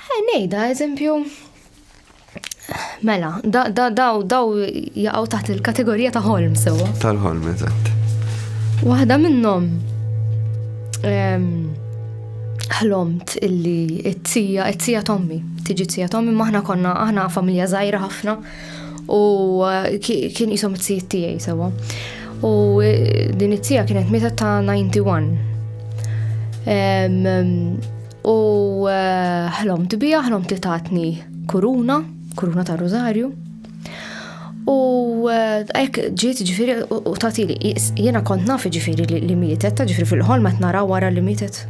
Ħa ngħidha eżempju Mela, daw daw jaqgħu taħt il-kategorija ta' ħolm sewwa. Tal-ħolm, eżatt. Waħda minnhom ehm, ħlomt illi it-tija, it-tija tommi, tiġi t-tija tommi, maħna konna, aħna familja zaħira ħafna u eh, kien jisom t-tija tijaj sewa. U eh, din it-tija kienet meta ta' 91. U eh, ħlomt bija, ħlomt li tatni kuruna, kuruna ta' Rosario. U eh, ek ġiet ġifiri u tati li jena kont nafi ġifiri li mietet, ta' ġifiri fil-ħolma qed nara wara li mietet.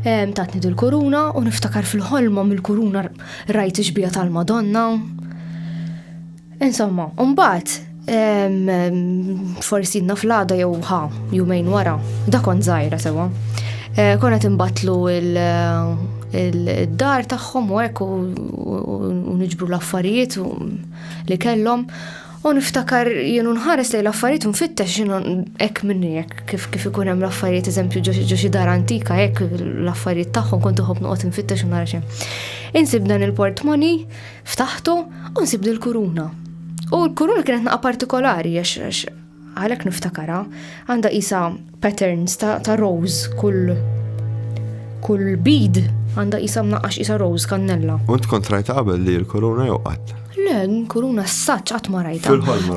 Tatni dil-kuruna u niftakar fil-ħolma mill-kuruna rajt iġbija tal-Madonna. Insomma, mbagħad forsi naf l-għada jew ħa, jumejn wara, da kont żgħira sewa. Eh, konna timbatlu il-dar tagħhom u hekk u niġbru l-affarijiet li kellhom. U niftakar jienu nħares li l-affarijiet nfittex jienu hekk minni hekk kif kif ikun hemm l-affarijiet eżempju ġo xi dar antika hekk l-affarijiet tagħhom kont iħobb noqgħod nfittex u nara xejn. Insib dan il-portmoni Ftaħtu u nsib dil-kuruna. U l-kuruna kienet naqa partikolari għax għalek niftakara għanda isa patterns ta', ta rose kull kull bid għanda isa mnaqqax isa rose kannella. Unt kontrajta qabel li l-kuruna jew qatt? Le, kuruna s-saċ għat marajta.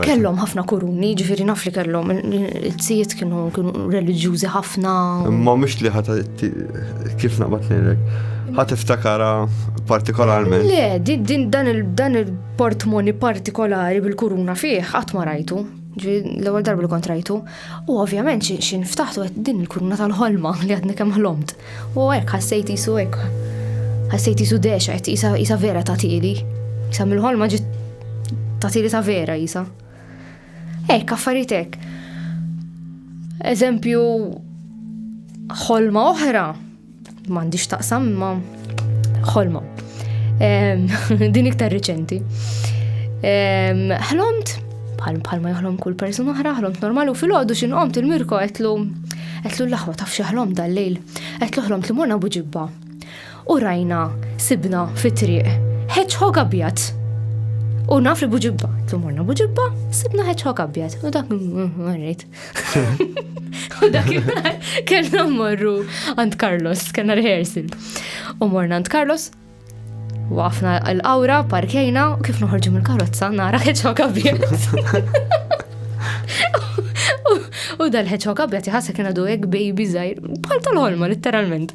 Kellom ħafna kuruni, ġifiri naf li kellom, il-tsijiet kienu religjuzi ħafna. Ma mux li ħata Kif naqbad ngħidlek? Ħadd iftakara partikolarment. Le, din dan il-portmoni partikolari bil-kuruna fih qatt ma rajtu. L-ewwel darba li kont rajtu. U ovvjament xi nftaħtu qed din il-kuruna tal-ħolma li għadni kemm ħlomt. U hekk ħassejt isu hekk. Ħassejt isu dexa qed isa vera ta' tieli. Isa mill-ħolma ġiet ta' tieli ta' vera isa. Hekk, affarijiet hekk. Eżempju, ħolma oħra, m'għandix taqsam ma ħolma. Din iktar riċenti. Ħlomt, bħal bħal ma jħlom kull person oħra, ħlomt normal u fil-ħodu xin qomt il-mirko għetlu għetlu l-laħwa taf xaħlom dal-lejl. Għetlu ħlomt li morna buġibba. U rajna, sibna fit-triq, hedgehog abjad. U naf li buġibba, tlu morna buġibba, sibna hedgehog abjad. U dak marrit. U dak kellna morru għand Carlos, kellna rehearsal. U morna għand Carlos, wafna l-awra, parkejna, u kif noħorġu mill-karozza, nara hedgehog abjad. U dal-ħeċok abjad jħassa kien għadu għek baby zaħir, bħal tal-ħolma, literalment.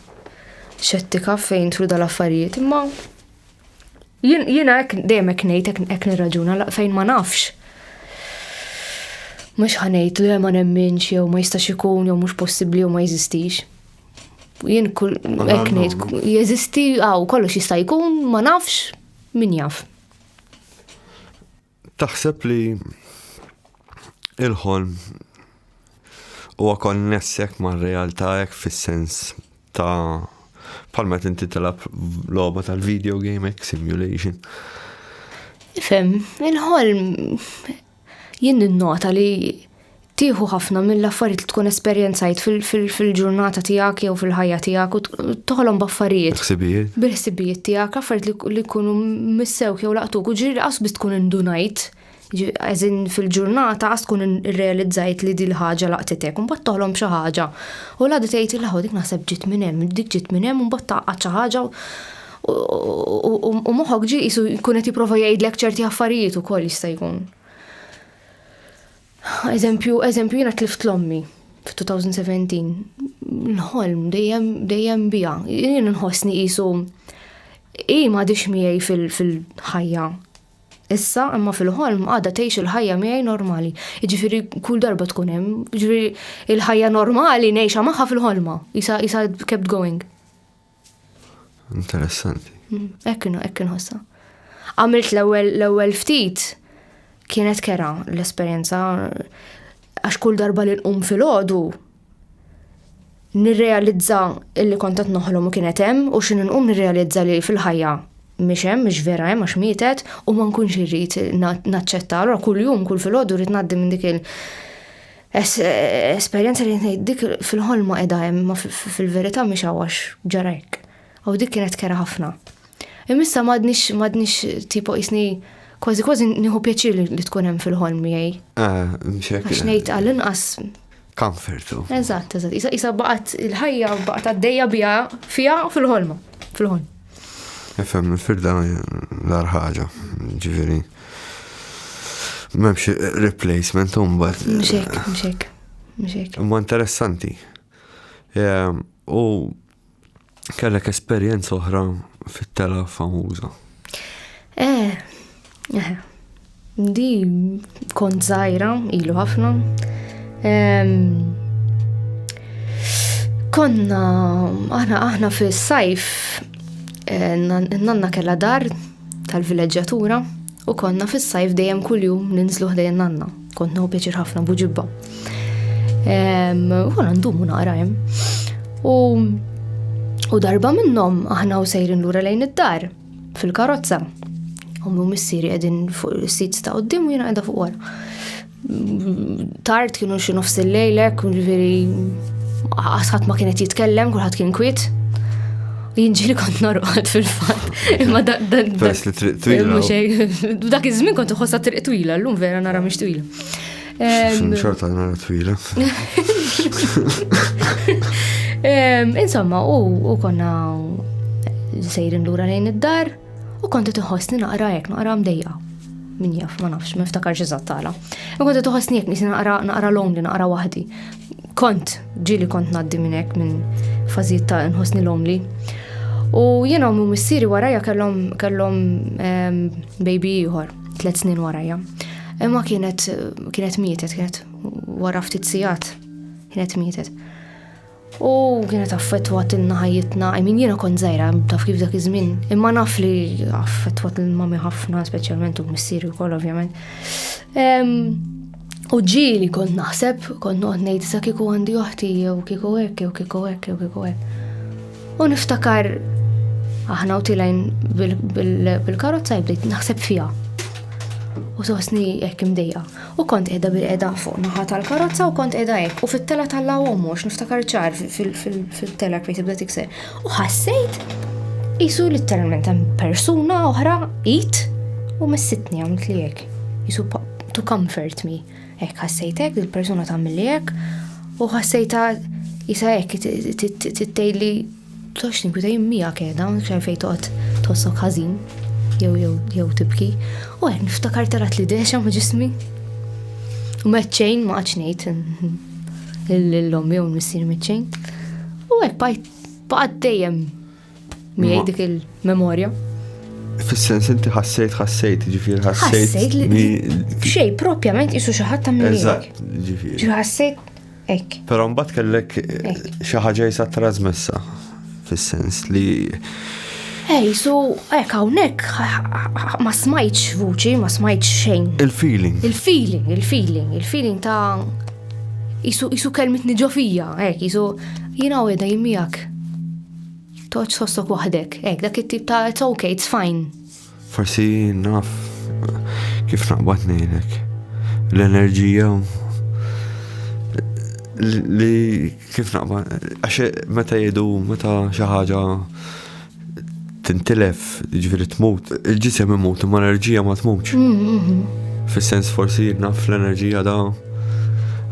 xettika fejn truda l-affarijiet, imma jiena hekk dejjem hekk ngħid hekk nirraġuna fejn ma nafx. Mhux ħanejt li ma nemminx jew ma jistax ikun jew mhux possibbli jew ma jeżistix. Jien kull hekk ngħid jeżisti hawn kollox jista' jkun ma nafx min jaf. Taħseb li il-ħolm huwa konnessek ma' realtà hekk fis-sens ta' palma tinti telab logħba tal-video game hekk simulation. Fem, il-ħolm jien nota li Tieħu ħafna mill-affarijiet li tkun esperjenzajt fil-ġurnata tiegħek jew fil-ħajja tiegħek u toħolhom b'affarijiet. Ħsibijiet. Bil-ħsibijiet tiegħek, affarijiet li jkunu missewk jew laqtuk u ġiri qas biss tkun indunajt. Eżin fil-ġurnata qas tkun irrealizzajt li dil ħaġa laqtitek, un bat toħlom xi ħaġa. U l-għadu tgħid il dik naħseb ġiet minn hemm, dik ġiet minn hemm un bat taqgħad xi ħaġa u moħħok ġi jisu jkun qed jipprova jgħidlek ċerti affarijiet ukoll jista' jkun. Eżempju, eżempju jiena tlift l-ommi f-2017. L-ħolm dejjem dejjem bija. Jien nħossni qisu i ma dix miegħi fil-ħajja. Issa imma fil-ħolm għadha tgħix il-ħajja miegħi normali. Jiġifieri kull darba tkun hemm, jiġifieri il-ħajja normali ngħixha magħha fil-ħolma. Isa isa kept going. Interessanti. Mm, ekkinu, ekkinu ħossa. Għamilt l-ewel ftit, kienet kera l-esperienza, għax kull darba li nqum fil-ħodu, nirrealizza illi kontat noħlom u kienet hemm u xin nqum nirrealizza li fil-ħajja mhix hemm, mhix vera hemm għax mietet u ma nkunx irrid naċċetta. Allura kuljum kull filgħodu rrid ngħaddi minn dik il Esperjenza li ngħid dik fil-ħolma qiegħda hemm ma fil-verità mhix għax ġara hekk. U dik kienet kera ħafna. Imissa m'għadniex m'għadniex tipo isni kważi kważi nieħu pjaċir li tkun hemm fil-ħolm miegħi. Ah, Għax ngħid għall-inqas. Comfortu. Eżatt, eżatt. Isa isa baqgħet il-ħajja baqgħet għaddejja biha fiha fil-ħolma. Fil-ħolm. Ifhem, il-firda l-ar ħaġa, ġifieri. M'hemmx replacement imbagħad. Mxek, mxek, mxek. Ma interessanti. Ehm, u kellek esperjenza oħra fit-tela famuża. Eh, eh. Di kont zaħira, ilu ħafna. Ehm, konna, aħna, aħna fis-sajf, eh, nanna kella dar, tal-vileġġatura u konna fis-sajf dejjem kuljum ninżlu ħdejn nanna. Kont nħu pjaċir ħafna buġibba. U konna ndumu naqra hemm. U darba minnhom aħna u sejrin lura lejn id-dar fil-karozza. Ummi u missieri qegħdin fuq is-sit ta' qudiem u jiena qiegħda fuq wara. Tard kienu xi nofs il-lejlek, ġifieri ħadd ma kienet jitkellem, kulħadd kien kwit. Jinġili kont norqod fil-fat. Imma dan. Pers li triq twila. Dak iż-żmien kont iħossa triq twila, llum vera nara mhix twila. Xorta nara twila. Insomma, u konna sejrin lura lejn id-dar. U konti tħossni naqra hekk naqra mdejja. Min jaf, ma nafx, ma niftakarx eżatt tala. U konti tħossni hekk nisi naqra naqra lonely, naqra waħdi. Kont ġili kont ngħaddi minn hekk minn fażijiet ta' nħossni lonely. U jiena u missieri warajja kellhom kellhom ehm, baby ieħor, tliet snin warajja. Imma kienet kienet mietet, kienet wara ftit sigħat kienet mietet. U kienet affettwat inna ħajjitna, I mean jiena kont żgħira taf kif dak iż-żmien, imma naf li affettwat lil mami ħafna, speċjalment u missieri wkoll ovvjament. U ġieli kont naħseb, kont noqgħod ngħid sa kieku għandi oħti jew kieku hekk jew kieku hekk jew kieku hekk. U niftakar aħna u tilajn bil-karozza jibdejt naħseb fiha. U sostni hekk imdejja. U kont qiegħda bil-qiegħda fuq naħa tal-karozza u kont qiegħda hekk u fit-tela tal-law ommu għax niftakar ċar fil-tela kmejt ibda tikser. U ħassejt jisu literalment hemm persuna oħra it u messitni għamilt li hekk. Jisu to comfort me. Hekk ħassejtek il-persuna tagħmel li hekk u ħassejta jisa hekk tittejli Tox tinkwitej miegħek qiegħda, mhux għalfejn toqgħod tħossok ħażin jew jew jew tibki. U qed niftakar tarat li dexa ma' ġismi. U meċċejn ma qatx ngħid l-lom jew missier meċċejn. U hekk bajt baqgħet dejjem miegħi dik il-memorja. Fis-sens inti ħassejt ħassejt, ġifier ħassejt. Ħassejt li xej propjament isu xi ħadd ta' Eżatt, ġifier. Ġifier ħassejt Ek. Pero mbagħad kellek eh, xi ħaġa jisa trasmessa fis-sens li Ej, so, ek hawnhekk ma smajtx vuċi, ma smajtx xejn. Il-feeling. Il-feeling, il-feeling, il-feeling ta' jisu jisu kelmit niġofija, ek, jisu jina u jeda jimmijak. Toċ sostok wahdek, ek, dak it-tip ta' it's okay, it's fine. Forsi naf kif naqbad nejlek. L-enerġija li kif naqbad, għax meta jedu, meta xi ħaġa tintilef, ġviri tmut, il-ġisem imut, ma l-enerġija ma tmutx. Mm, mm, mm. Fis-sens forsi naf l-enerġija da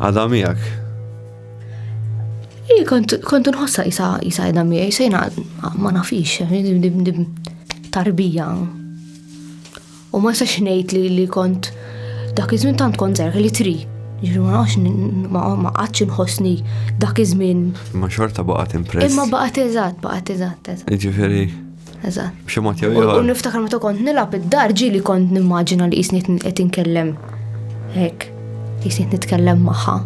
għada miegħek. Kontu nħossa jisa jisa jisa jina ma nafix, tarbija. U ma sax ngħid li li kont dak iż-żmien tant kont żgħir li tri. Jiġu ma nafx ma qatx inħossni dak iż-żmien. Ma xorta baqgħet impress. Imma baqgħet eżatt, baqgħet eżatt, eżatt. Ġifieri. Eżatt. B'xi mod jew U niftakar meta kont nilgħab id-dar ġieli kont nimmaġina li qisni qed inkellem hekk. Qisni nitkellem magħha.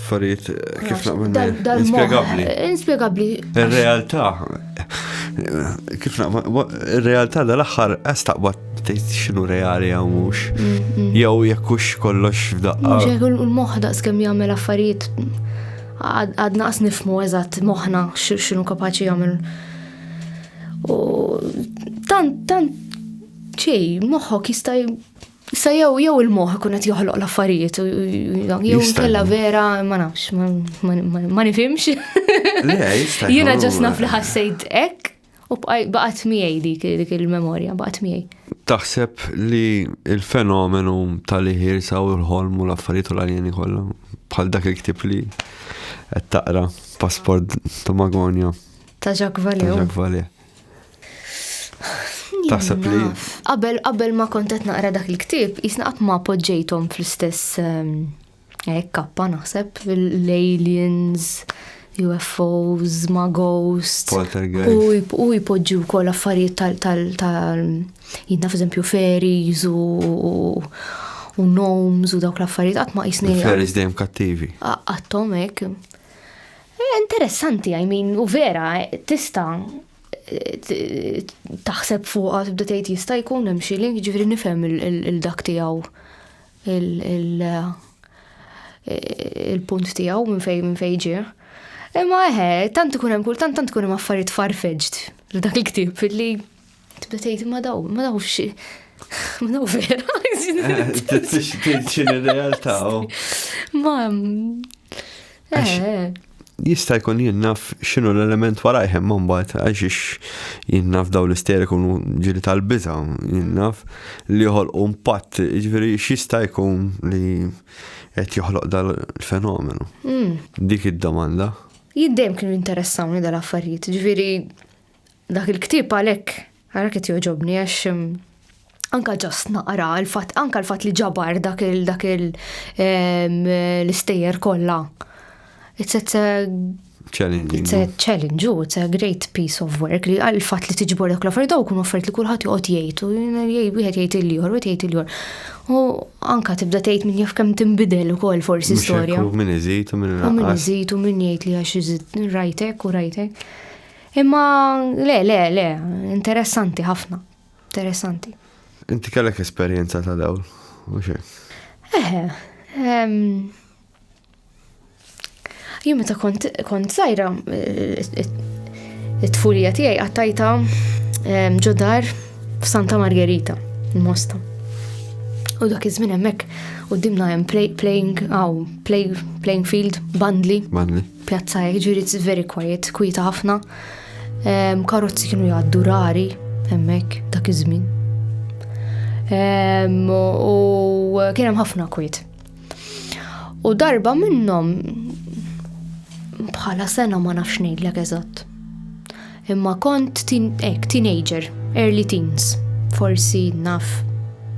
Farid, kif naqbel Inspiegabbli. Inspiegabbli. Ir-realtà. Kif naqbel, ir-realtà dal-aħħar qas taqbad tgħid x'inhu reali jew mhux. Mm, mm. Jew jekk hux kollox f'daqqa. Mhux hekk il-moħħ daqs kemm jagħmel affarijiet għad naqs nifmu eżatt moħħna x'inhu kapaċi jagħmel. U tant tant ċej, moħħok jista' Sa jew jew il-moħ ikun qed joħloq l-affarijiet jew kella vera ma nafx ma nifhimx. Jiena ġas naf li ħassejt hekk u baqgħet miegħi dik dik il-memorja baqgħet miegħi. Taħseb li il-fenomenu tal-iħir sa u l-ħolm u l-affarijiet u l-aljeni kollha bħal dak il-ktib li qed taqra pasport ta' Magonja. Ta' Jacques Valley. Ta' Jacques Valley. Taħseb li. Qabel qabel ma kont qed naqra dak il-ktieb, jisna qatt ma poġġejthom fl-istess ehm, eh, kappa naħseb l-aliens, UFOs, ma ghosts. Poltergeist. U jpoġġu wkoll affarijiet tal tal jidna f'eżempju fairies u u gnomes u dawk l-affarijiet qatt ma jisni. Fairies dejjem kattivi. Għattom hekk. Hija interessanti, I mean, u vera, tista' taħseb fuqha tibda tgħid jista' jkun hemm xi link, ġifieri nifhem il-dak tiegħu il-punt tiegħu minn fejn minn fejn ġie. Imma eħe, tant ikun hemm kultant tant ikun hemm affarijiet farfetched f'dak il-ktieb li Tibda tgħid ma daw, ma daw xi. Ma daw vera. Tixin ir-realtà. Ma. Eh, eh. Jista' jkun jien naf x'inhu l-element wara jħem ma mbagħad għax jien naf daw l-ister ikunu ġiri tal-biża, jien naf li joħolqu impatt, ġifieri x'jista' jkun li qed joħloq dal-fenomenu. Hmm. Dik id-domanda. Jiddejjem kienu interessawni dal-affarijiet, ġifieri Dak il-ktieb għalhekk ara qed joġobni għax mm, anka ġast naqra l-fatt anka l-fatt li ġabar dak il dak il l-istejjer kollha. It's a challenging. It's a challenge, oh, it's a great piece of work li għal fatt li tiġbor dak l-affarijiet daw kun affarijiet li kulħadd joqgħod jgħid u wieħed jgħid il-jor, wieħed jgħid il-jor. U anka tibda tgħid min jaf kemm tinbidel ukoll forsi storja. U min iżid u min iżid u min jgħid li għax iżid rajtek u rajtek. Imma le, le, le, interessanti ħafna. Interessanti. Inti kellek esperjenza ta' dawl, u xe? Eħe. Jien meta kont kont sajra it-tfulija tiegħi qattajta ġodar f'Santa Margherita, il-Mosta. U dak iż-żmien hemmhekk qudiemna hemm playing aw playing field bandli. Bandli. Pjazza hekk ġieli it's very quiet, kwieta ħafna. Ehm, karozzi kienu jgħaddu rari hemmhekk dak iż-żmien. Ehm, u kien hemm ħafna kwiet. U darba minnhom bħala sena ma nafx ngħidlek eżatt. Imma kont hekk teenager, early teens, forsi naf,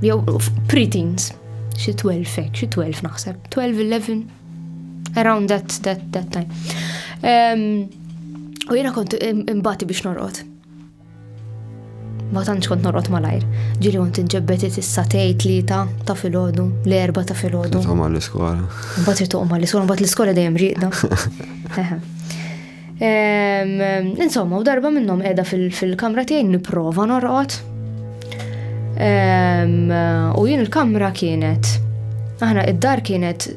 jew pre-teens, xi 12 hekk, xi 12 naħseb, 12, 11, Around that, that, that time. Um, u jena kont imbati biex norqot. Ma tantx kont norqot malajr. Ġili kont inġebbetit issa tej tlieta ta' filgħodu, l-erba ta' filgħodu. Titqom għall-iskola. Mbagħad titqom għall-iskola, mbagħad l-iskola dejjem rieqda. Insomma, u darba minnhom qiegħda fil-kamra tiegħi nipprova norqod. U jien il-kamra kienet, aħna id-dar kienet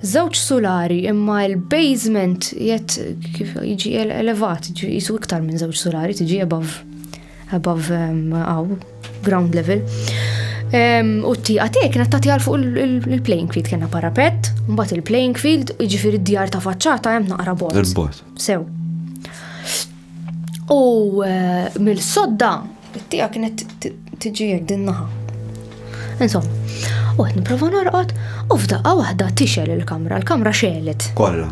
żewġ sulari imma l-basement jett kif jiġi elevat, jisu iktar minn żewġ sulari tiġi above above għaw, um, ground level. Um, u t-tiqa tiegħi kienet tagħti għal fuq il-playing field kena parapet, mbagħad il-playing field, jiġifieri d-djar ta' faċċata hemm naqra bot. Il-bot. Sew. U uh, mill-sodda, t-tiqa kienet tiġi din naħa. Insomma, u qed nipprova norqod u f'daqqa waħda tixel il-kamra, l-kamra xelet. Kollha.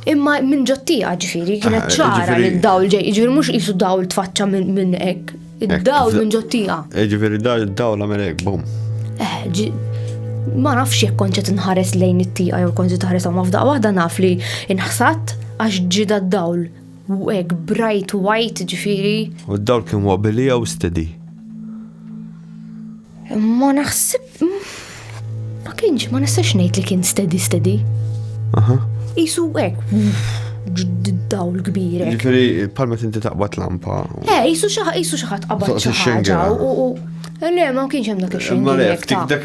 Imma minn ġottija ġifieri kienet ah, ċara li d-dawl ġej, ġifieri mhux qisu dawl tfaċċa minn hekk. Id-dawl minn ġottija. Eh, ġifieri d-dawl għamel hekk, bum. Eh, ma nafx jekk konċet nħares lejn it-tija jew konċet nħares ma f'daqqa waħda naf li inħsat għax ġida d-dawl U hekk bright white ġifieri. U d-dawl kien wobbly jew steady? Ma naħseb. Ma kienx, ma nistax ngħid li kien steady steady. Aha. Isu hekk. Dawl kbir. Ġifieri palma tinti taqbad lampa. Eh, isu xi ħadd qabad xi ħaġa. Le, ma kienx hemm dak ix-xejn. Ma le, ftik dak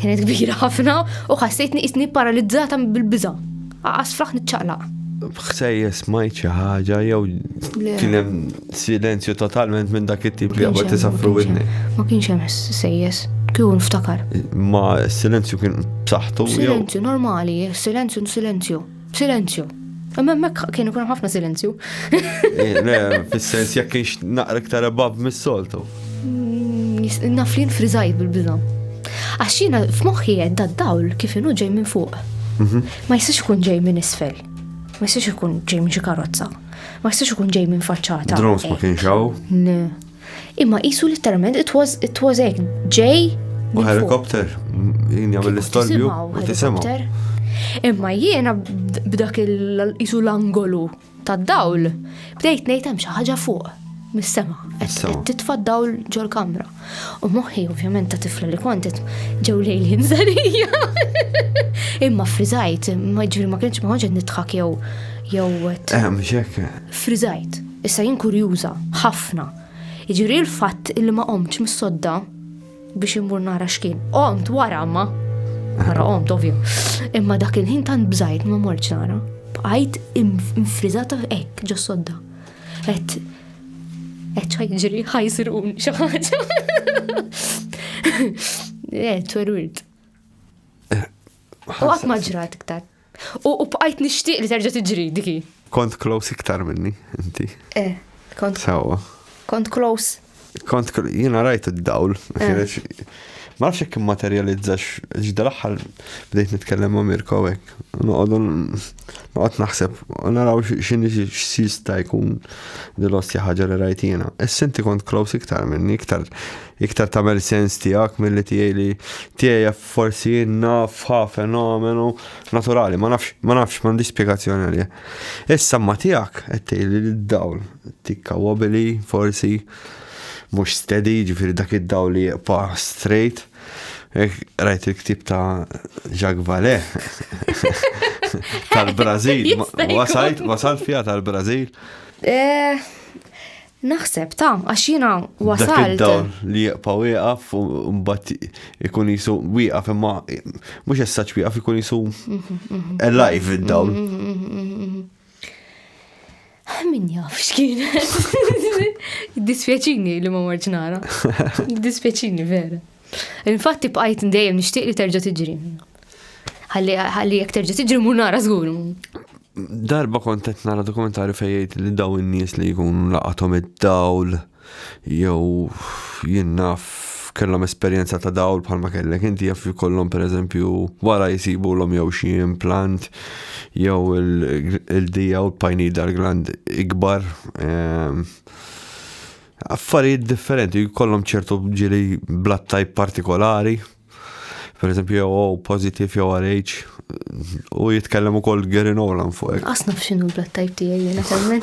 Kienet kbira ħafna u ħassejtni isni paralizzata bil-biża. Aqas fraħ niċċaqlaq. Bħsejja smajt xi ħaġa jew kien hemm silenzju totalment minn dak it-tip li għabad tisafru widni. Ma kienx hemm sejjes, kieku nftakar. Ma silenzju kien b'saħħtu. Silenzju normali, silenzju silenzju. Silenzju. Imma hemmhekk kien ikun ħafna silenzju. Eh, fis-sens jekk kienx naqra iktar ebab mis-soltu. Mm, naf li nfriżajt bil-biża. Għax jiena f'moħħi qed dawl kif inhu ġej minn fuq. Mhm. Ma jistax ikun ġej minn isfel. Ma jistax ikun ġej minn xi karozza. Ma jistax ikun ġej minn faċċata. Drones ma eh. kienx hawn. Imma qisu letteralment it was it was hekk ġej. U helikopter jien jagħmel l-istorbju u tisimgħu. Imma jiena b'dak il-qisu l-angolu tad-dawl bdejt ngħid hemm xi ħaġa fuq mis-sema. Qed titfa' dawl ġol-kamra. U moħħi ovvjament ta' tifla li kontet ġew lejl ħinżarija. Imma friżajt, ma ġifieri ma kienx ma konċet nitħak jew jew. Ehm, xek. Friżajt. Issa jien kurjuża ħafna. Jiġifieri l-fatt illi ma qomtx mis-sodda biex immur nara x'kien. Qomt wara ma nara qomt ovvja. Imma dak il-ħin tant bżajt ma mortx nara. Bqajt infriżata hekk ġo sodda. Et et ħajġri ħajsirun xi ħaġa. Et werwirt. U qatt ma ġrat iktar. U bqajt nixtieq li terġa' tiġri dik hi. Kont close iktar minni, inti. Eh, kont. Sewwa. Kont close. Kont jiena rajt id-dawl. Eh. Ma nafx jekk immaterjalizzax ġdal aħħar bdejt nitkellem ma' Mirko hekk. Noqogħdu noqgħod naħseb u naraw x'inhi x'sista jkun dil-ostja ħaġa li rajt jiena. Issa inti kont close iktar minni, iktar iktar tagħmel sens tiegħek milli tiegħi li tiegħi Forsi jien naf ħa fenomenu naturali, ma nafx, ma nafx, m'għandix spjegazzjoni għalih. Issa ma tiegħek qed tgħidli li d-dawl tikka wobili, forsi mhux steady, ġifieri dak id-dawl li jibqa' straight. Rajt il-ktib ta' Jacques Vallée tal-Brażil, wasalt, wasalt fiha tal-Brażil. Eh, Naħseb ta' għax jiena wasalt. Dawn li jieqpa wieqaf u mbagħad ikun jisu wieqaf imma mhux essaċ wieqaf ikun jisu alive id-dawl. Min jaf x'kien. Dispjaċini li ma marġ nara. Dispjaċini vera. Infatti bqajt dejjem nixtieq li terġa' tiġri. Ħalli jekk terġa' tiġri mur nara żgur. Darba kont qed nara dokumentarju fejn jgħid li daw in-nies li jkunu laqathom id-dawl jew jien naf kellhom esperjenza ta' dawl bħalma kellek inti jaf jkollhom pereżempju wara jsibu l jew xi implant jew il-dija u l-pineal gland ikbar ehm, affarijiet differenti jkollhom ċertu ġili blat tajb partikolari per eżempju jew O positive jew RH u jitkellem ukoll Gary Nolan fuq hekk. Qas naf x'inhu l-blood type tiegħi jiena temmen.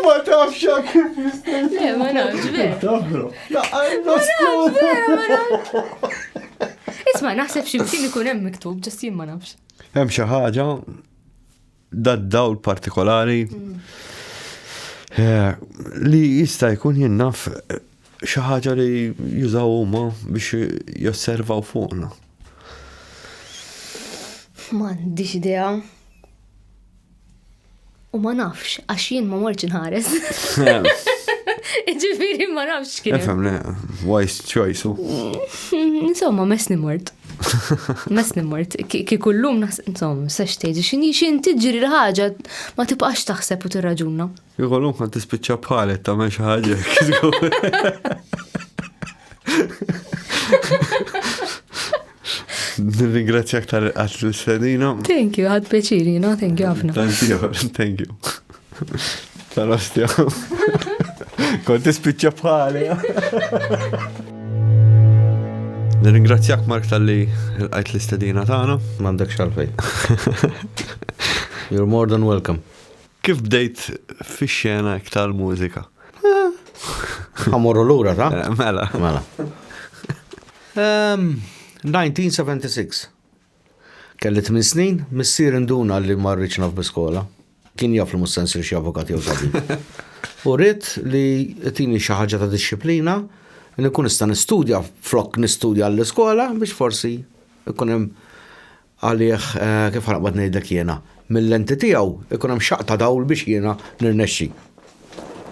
Ma tafx jak kif jista' Le, ma nafx vera. Tafru. Laqqa Vera, ma nafx. Isma' naħseb xi mkien ikun hemm miktub, ġast jien ma nafx. Hemm xi ħaġa dad-dawl partikolari mm. eh, li jista' jkun jinnaf eh, xi ħaġa li jużaw huma biex josservaw fuqna. M'għandix idea. U ma nafx, għax jien ma morċ nħares. Ġifiri ma nafx kien. Nifhem, wise choice. Mm, insomma, mes nimort. Mes nimort. Ki kullum naħseb, insomma, sex tgħid, x'inhi x'in tiġri l-ħaġa ma tibqax taħseb u tirraġuna. Jkollu kont tispiċċa bħalet tagħmel xi ħaġa Nirringrazzjak tal-qat l-sedina. Thank you, għad peċiri, no? Thank you għafna. Thank you, thank you. Tal-ostja. Kont tispiċċa bħali. Nirringrazzjak Mark tal-li l-qajt l-istedina tagħna. M'għandek xalfej. You're more than welcome. Kif bdejt fix-xena iktar mużika? Ħamorru lura ta'? Eh, mela. Mela. 1976. Kelli 8 snin, missier induna li ma rridx naf biskola. Kien jaf li mussen sir xi avukat jew tabib. U rrid li tini xi ħaġa ta' disċiplina li kun nista' nistudja flok nistudja għall-iskola biex forsi ikun hemm għalih, kif ħa noqgħod ngħidlek jiena, mil-lenti tiegħu jkun hemm xaqq ta' dawl biex jiena nirnexxi.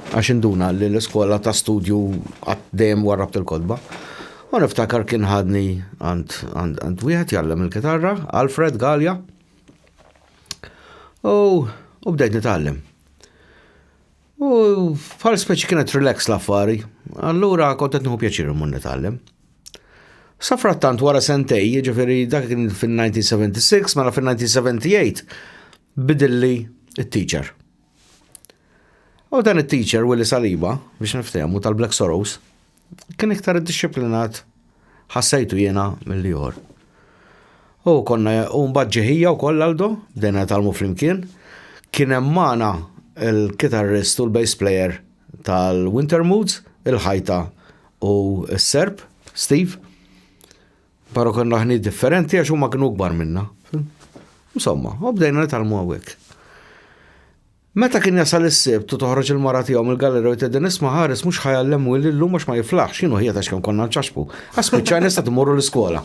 Għax induna li l-iskola ta' studju qatt dejjem warrabt il-kotba. U niftakar kien ħadni għand wieħed jgħallem il-kitarra, Alfred Galja. U bdejt nitgħallem. U bħal speċi kienet relax l-affari, allura kont qed nieħu pjaċir immur nitgħallem. Sa frattant wara sentej, ġifieri dak kien fin-1976, mela fin-1978 bidilli it-teacher. U dan it-teacher Willy Saliba, biex niftehmu tal-Black Sorrows, kien iktar iddixxiplinat ħassejtu jiena milli jor. U konna u mbagħad ġeħija wkoll Aldo, bdejna talmu flimkien. Kien hemm magħna il-kitarrist u l-bass player tal-Winter Moods, il-ħajta u s-Serb, Steve. Però konna ħni differenti għax huma kienu kbar minna. Insomma, u bdejna nitalmu hawnhekk. Meta kien jasal is-Sibt u toħroġ il-mara tiegħu mill-gallerija u jtedden isma' ħares mhux ħa jgħallem Willy llum għax ma jiflaħx, jien u ħija tax kemm konna nċaxxbu. Għax spiċċajna sa tmorru l-iskola.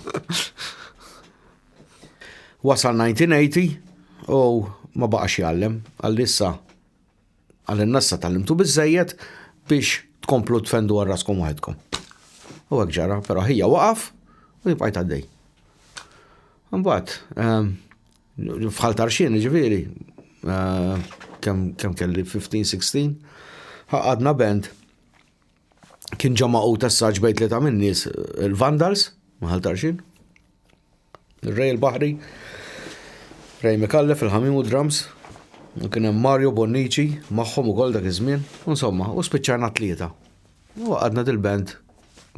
Wasal 1980 u ma baqax jgħallem għal issa għal nassa tal-imtu biżejjed biex tkomplu tfendu għal raskom waħedkom. U għek ġara, pero ħija waqaf u jibqajt għaddej. Mbagħad, ehm, F'Ħal Tarxien, jiġifieri, kemm kelli 15, 16, għaqadna band, kien ġo magħqud assaġġ bejn tlieta min-nies, il-Vandals, ma' Ħal Tarxien, ir-Rej il-Baħri, Rej Micallef, il-ħamiem u d-drums, u kien hemm Mario Bonnici magħhom ukoll dak iż-żmien, u insomma, u spiċċajna tlieta. Waqadna dil-band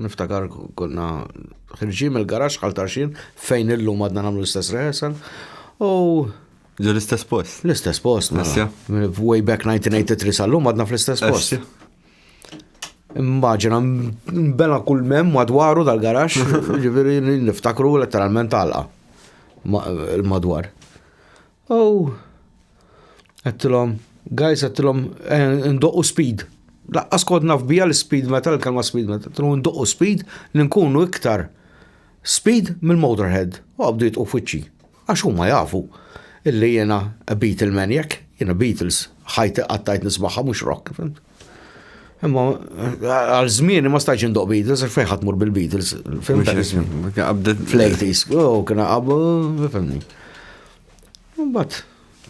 niftakar konna ħirġin mill-garax għal tarxin fejn illum għadna nagħmlu l-istess rehearsal u Ġo l-istess post. L-istess post, mela. Asja. Way back 1983 sal-lum għadna fl-istess post. Immaġina, bela kull mem madwaru dal-garax, ġiviri niftakru letteralment għalqa madwar. Oh! Għedtilhom, guys, għedtilhom, eh, ndoqqu speed. Laqqas kod naf bija l-speed meta l-kelma speed meta. Għedtilhom ndoqqu speed li nkunu iktar speed mill-motorhead. U għabdu jitqu fuċċi. Għax huma jafu illi jena a Beatle maniac, jena Beatles, ħajti qattajt nismaħħa mux rock, fimt? Imma għal żmien ma stajx indoq Beatles, fejn ħadd mur bil-Beatles. Fl-80s, oh, kien qabdu, fimni. Mbagħad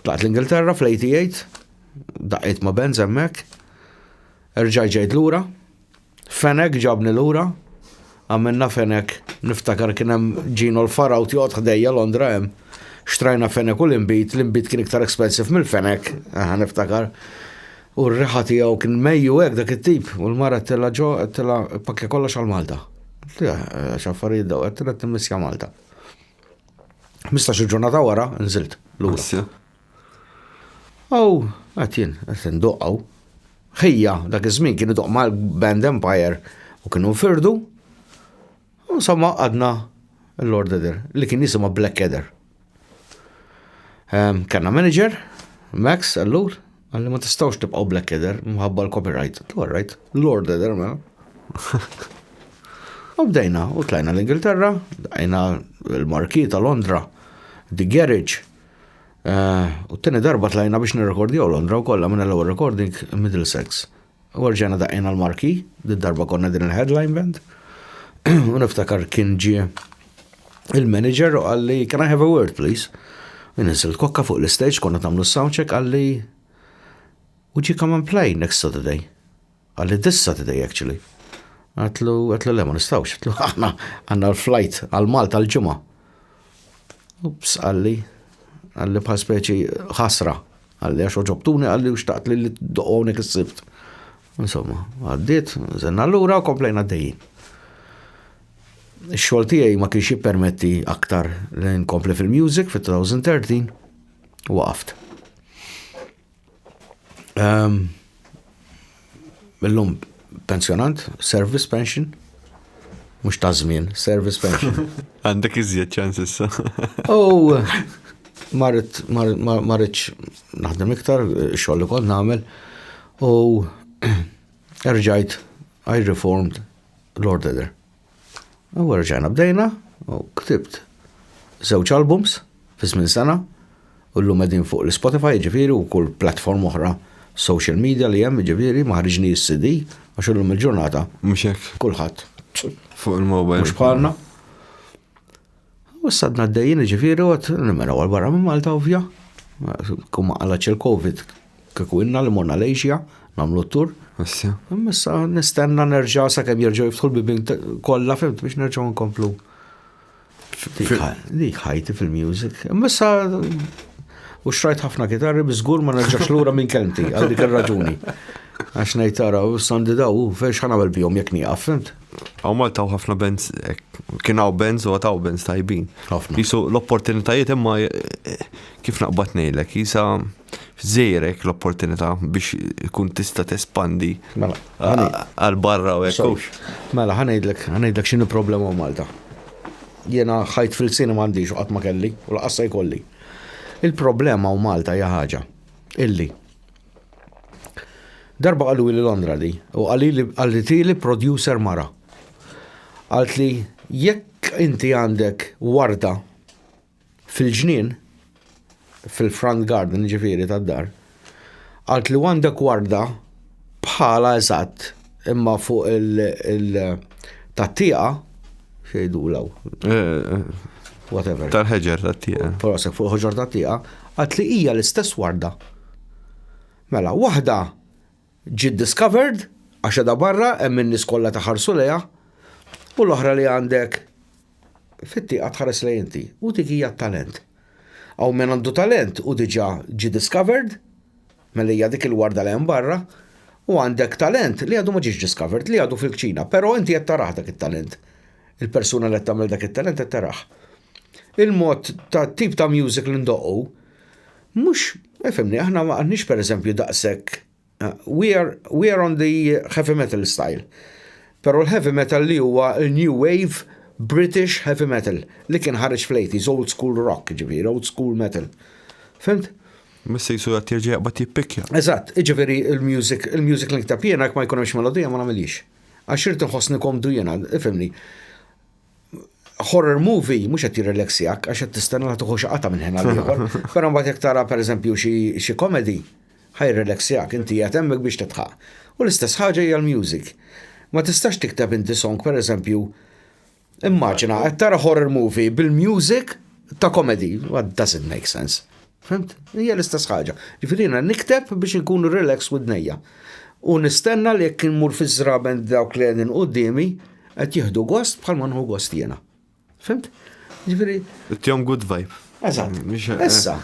tlaqt l-Ingilterra fl-88, daqqiet ma' Benz hemmhekk, erġaj ġejt lura, Fenek ġabni lura, Għamilna fenek, niftakar kien hemm Gino l-Faraw joqgħod ħdejja Londra hemm. Xtrajna fenek u l-inbid, l-inbid kien iktar expensive mill-fenek, aha niftakar. U r-riħa tiegħu kien mejju hekk dak it-tip u l-mara tella ġo tella pakkja kollox għal Malta. X'affarijiet daw qed tilla timmissja Malta. Mistax il-ġurnata wara nżilt lura. Aw, għad jien, għad ndoq aw. Ħija, dak iż-żmien kien idoq mal Band Empire u kienu firdu. Insomma, għadna l-Lord Eder, li kien jisima Black Eder. Ehm, kanna manager, Max, allur, għalli ma tistawx tibqaw Black Eder, mħabba l-copyright. All right, Lord Eder, ma. Mela. U bdejna, u tlajna l-Ingilterra, dajna l-marki ta' Londra, The Garage, U t-tini darba tlajna biex nirrekordjaw Londra u kollha minn l-ewwel recording Middlesex. U rġajna daqqina l-marki, din darba konna din il-headline band. U niftakar kien ġie il-manager u għalli, can I have a word please? U nisil kokka fuq l-stage konna tamlu soundcheck għalli, would you come and play next Saturday? Qalli, Tista' tidej actually. Għedtlu, għedtlu le ma nistgħux, għedtlu aħna għandna l-flight għal Malta l-ġimgħa. Ups, qalli, qalli bħal speċi ħasra, qalli għax oġobtuni qalli u xtaqt li li doqgħonek is-sibt. Insomma, għaddiet, żenna lura u komplejna dejjin. Ix-xogħol tiegħi ma kienx jippermetti aktar li nkompli fil-music fit-2013 waqaft. Ehm, illum pensjonant, service pension, mux ta' żmien, service pension. Għandek iżjed ċans issa. U marrit, marritx naħdem iktar, xoll li kont nagħmel, u erġajt I reformed Lord Eder. U rġajna bdejna u ktibt żewġ albums fi żmien sena u llum qegħdin fuq l-Spotify ġifieri u kull platform oħra social media li hemm ġifieri ma ħriġni s-CD għax illum il-ġurnata. Mhux hekk. Kulħadd. Fuq il-mobile. Mhux bħalna. U issa għadna għaddejjin ġifiri u għad nimmenaw għal-barra minn Malta ovvja. Kum għalaċ il-Covid kiku inna li morna l-Asia, namlu t-tur. Issa. Issa nistenna nerġa sa' kem jirġu jiftħu l-bibin kolla fimt biex nerġu nkomplu. Dik ħajti fil-music. Issa u xrajt ħafna kitarri bizgur ma nerġax lura minn kelmti għal dik il-raġuni. Għax nejtara u sandi daw, fex ħanabel bihom jek nieqaf, fimt? Għaw Malta għaw ħafna bands, eh, kien għaw bands u għataw bands tajbin. Ħafna. Jisu l-opportunitajiet imma eh, kif naqbat nejlek, jisa zejrek l-opportunità biex kun tista tespandi mela, għal-barra u ekkux. Mela, ħanejdlek, ħanejdlek xinu problema u Malta. Jena ħajt fil-sini mandiġ u għatma kelli u l-qassa jkolli. Il-problema u Malta jaħħaġa illi Darba qalu li Londra di, u qalili qalitili producer mara. Qalt li jekk inti għandek warda fil-ġnien, fil-front garden ġifieri tad-dar, qalt li għandek warda bħala eżatt Imma fuq il-tat-tieqa, xejdu law. Whatever. Tal-ħeġer tat-tieqa. Porosek fuq il-ħeġer tat-tieqa, għat li hija l-istess warda. Mela, waħda ġiet discovered, għax edha barra, hemm in-nies kollha taħarsu lejha, u l-oħra li għandek fit-tieqa tħares lejn inti, u dik hija t-talent. Hawn min għandu talent u diġà ġie discovered, Mela hija dik il-warda li hemm barra u għandek talent li għadu ma ġiex discovered, li għadu fil-kċina, però inti qed tarah dak it-talent. Il-persuna li qed tagħmel dak it-talent qed tarah. Il-mod ta' tip ta' music li ndoqqu mhux Efimni, aħna ma għandniex per eżempju daqsek, eh, we are, we are on the heavy metal style. Pero l-heavy metal li huwa new wave British heavy metal li kien ħareġ fl-80s, old school rock, ġivir, old school metal. Fimt? Miss jisu għat jirġi jaqbat jippikja. Eżatt, iġifiri il-music, il-music li nktab jena, ma jkun hemmx melodija ma nagħmilix. Għax irid nħossni komdu jena, ifimni. Horror movie mhux qed jirrelaxjak għax qed tistenna li tuħu xaqata minn ħin għal ieħor. Però mbagħad jekk tara pereżempju xi komedi, ħajrrelaxjak, inti qed hemmhekk biex titħaq. U l-istess ħaġa hija l-music. Ma tistax tikteb inti song pereżempju Immaġina, qed tara horror movie bil-music ta' comedy, what doesn't make sense. Fimt? Hija l-istess ħaġa. Ġifieri jiena nikteb biex inkun relax widnejja. U nistenna li jekk immur fiż-żraben dawk li qegħdin quddiemi qed jieħdu gost bħalma nħu gost jiena. Fimt? Ġifieri. Tihom good vibe. Eżatt. Issa,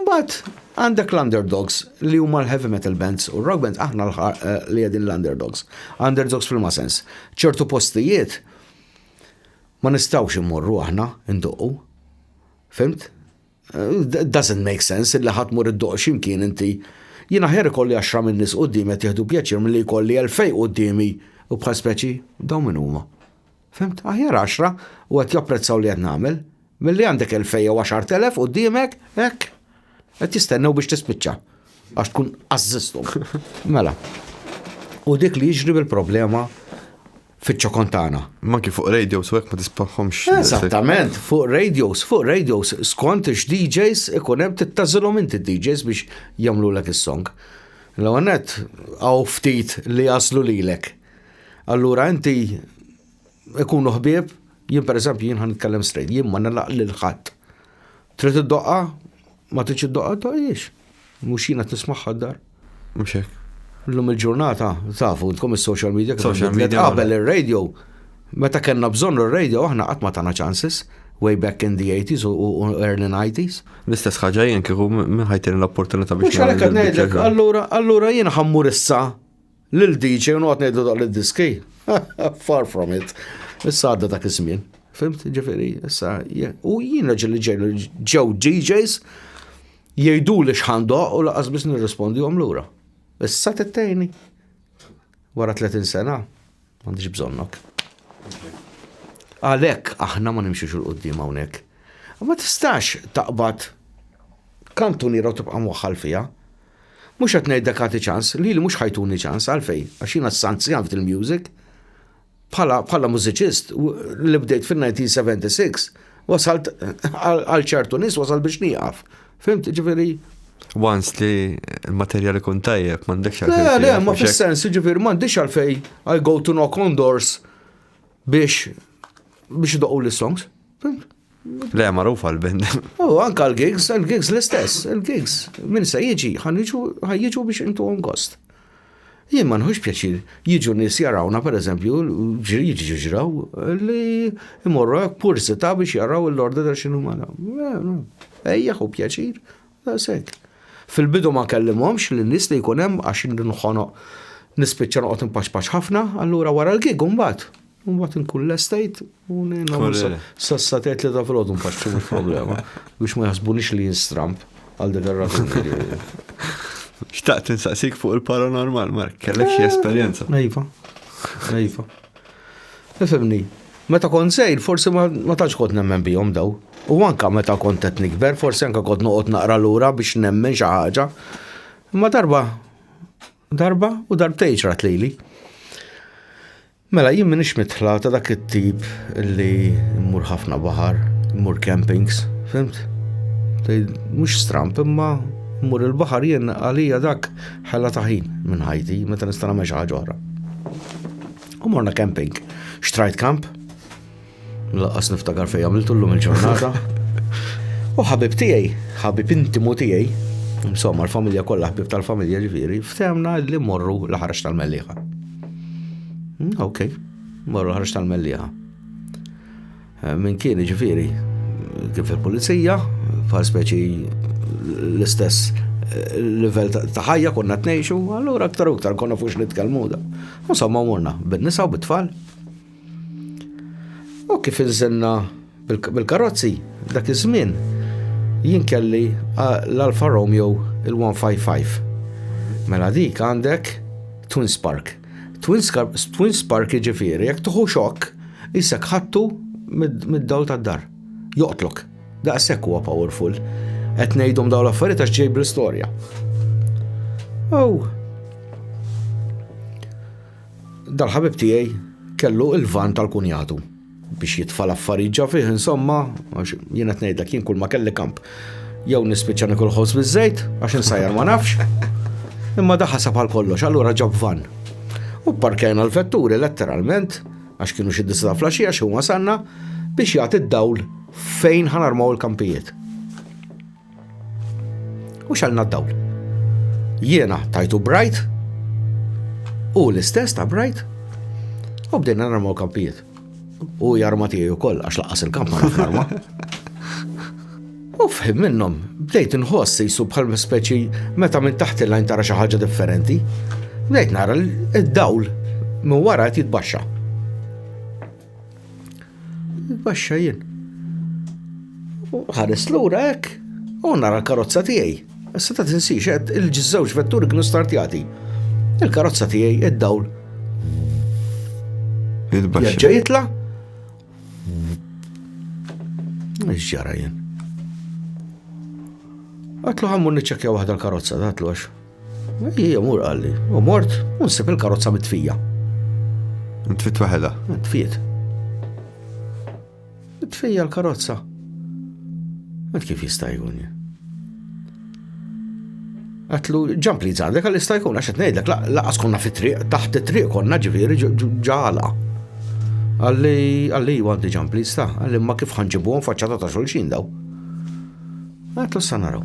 mbagħad għandek l-underdogs li huma l-heavy metal bands u rock bands aħna eh, li qegħdin l-underdogs. Underdogs fil-ma sens. ċertu postijiet ma nistgħux immorru aħna nduqqu. Fimt? Eh, doesn't make sense illi ħadd mur id-doq x'imkien inti. Jien aħjar ikolli għaxra minn nies quddiem qed jieħdu pjaċir milli jkolli elfej qudiemi u bħal speċi dawn min huma. Fhimt? Aħjar għaxra, u qed japprezzaw li qed nagħmel, milli għandek elfej jew għaxart elef quddiemek, hekk, qed jistennew biex tispiċċa għax tkun għażżisthom. Mela. U dik li jiġri bil-problema fiċ-ċokon tagħna. Ma kif fuq radios u hekk ma tisbaħhomx. Eżattament, fuq radios, fuq radios skont x-DJs ikun hemm tittażilhom inti d-DJs biex jagħmlulek is-song. L-għonet għaw ftit li jaslu lilek. Allura inti ikunu ħbieb, jien pereżempju jien ħan nitkellem strejt, jien ma nilaq lil ħadd. Trid iddoqqa, ma tridx iddoqqa doqgħiex. Mhux jien qed nismagħha d-dar. Mhux hekk. Illum il-ġurnata, tafu, intkom is-social media kif Social media. Qabel ir-radio, meta kellna bżonn ir-radio aħna qatt ma tagħna chances way back in the 80s u early 90s. L-istess ħaġa jien kieku minn ħajtini l-opportunità biex. Mhux għalhekk qed ngħidlek, allura allura jien ħammur issa Lil DJ u noqgħod ngħidlu daqq lid-diski. Far from it. Issa għadda dak iż-żmien. Fimt, ġifieri, issa u jien raġel li ġejlu ġew DJs jgħidu li x'ħandoq u laqas biss nirrispondi lura. Issa tittejni. Wara 30 sena. M'għandix bżonnok. Għalhekk aħna ma nimxux il qudiem hawnhekk. Ma tistax taqbad kantuniera u tibqa' mwaħħal fiha. Mhux qed ngħidlek għati ċans, li li mhux ħajtuni ċans għalfejn, għax jiena s-sanzjan fil-music. Bħala mużiċist li bdejt fin-1976 wasalt għal ċertu nies wasalt biex nieqaf. Fimt, ġifiri, once li l-materjal ikun tajjeb, m'għandekx għalfejn. Le, le, ma fis-sens, ġifiri, m'għandekx għalfejn I go to knock on doors biex biex doqu l-songs. Le, marufa l-band. U anka l-gigs, l-gigs l-istess, l-gigs. Min se jiġi, ħan jiġu biex intu għom gost. Jien ma nħux pjaċir jiġu nies jarawna pereżempju jiġu ġraw li imorru hekk pursità biex jaraw l-orda ta' xinu mara. Ejja hu pjaċir, daqshekk. Fil-bidu ma kellimhomx li nies li jkun hemm għax nħonoq nispiċċa noqgħod impaċpaċ ħafna, allura wara l-gig mbagħad Mbagħad inkun lestejt u nagħmel sassa tgħid li ta' filgħodu nfaxxu mhux problema biex ma jaħsbunix li jinstramp għal dik ir-raġuni. Xtaqt insaqsik fuq il-paranormal, Mark, kellek xi esperjenza. Ejfa, ejfa. Ifimni, meta kont sejr, forsi ma tantx kont nemmen bihom daw. U anka meta kont qed nikber, forsi anka kont noqgħod naqra lura biex nemmen xi ħaġa. Imma darba, darba u darbtejn xrat lili. Mela jien m'iniex mitħla ta' dak it-tip li mmur ħafna baħar, mmur campings, fimt? Mhux stramp imma mmur il-baħar jien għalija dak ħela ta' ħin minn ħajti meta nista' nagħmel xi ħaġa oħra. U morna camping. Xtrajt kamp? Laqqas niftakar fejn għamiltu llum il-ġurnata. U ħabib tiegħi, ħabib intimu tiegħi, insomma l-familja kollha ħbib tal-familja ġifieri, ftemna li morru l-ħarġ tal-mellieħa. Hmm, ok, morru l-ħarġ tal-mellieħa. Eh, min kien ġifieri kif il-pulizija, bħal speċi l-istess eh, level ta' ħajja konna tnejxu, allura aktar u aktar konna fux nitkellmu da. Insomma morna, bin-nisa u bit-tfal. U kif inżenna bil-karozzi dak iż-żmien jien kelli l-Alfa Romeo il-155. Mela dik għandek Twin Spark. Twin Spark jiġifieri jekk tuħu xokk isek ħattu mid-dawl tad-dar. Joqtlok. Daqshekk huwa powerful. Qed ngħidhom dawn l-affarijiet għax ġej bl-istorja. Oh. Dal-ħabib tiegħi kellu l-van tal-kunjatu biex jitfa' l-affarijiet ġa fih insomma, għax jien qed ngħidlek jien kull ma kelli kamp. Jew nispiċċa nikul ħoss biż-żejt għax insajjar ma nafx. Imma da ħasab għal kollox, allura ġab van. U parkajna l-vetturi letteralment għax kienu xi disa ta' flaxija xi wasanna biex jagħti d-dawl fejn ħanarmaw il-kampijiet. U xalna d-dawl. Jiena tajtu Bright u l-istess ta' Bright u bdejna narmu kampijiet. U jarma tiegħi wkoll għax laqas il-kamp ma narma. U fħim minnhom bdejt inħoss jisu bħal speċi meta minn taħt il-lajn tara xi ħaġa differenti. Bdejt nara l-dawl minn wara qed jitbaxxa. Baxxa jien. U ħares lura hekk u nara l-karozza tiegħi. Issa ta' tinsix qed il-ġiżżewġ vetturi kienu startjati. Il-karozza tiegħi id-dawl. Jaġġa jitla? Ġara jien. Għatlu ħammu niċċekja waħda l-karozza, għatlu għax. Ija mur qalli, u mort, u nsib il-karozza mitfija. Ntfit waħela? Ntfit. Ntfija l-karozza. Mat kif jista' jkun Għatlu ġamp li zandek għal jista' jkun għax ngħidlek laqas konna fit-triq, taħt it-triq konna ġifieri ġala. Għalli għalli għandi ġamp li sta, għalli ma kif ħanġibuhom faċċata ta' xulxin daw. Għatlu s-sanaraw.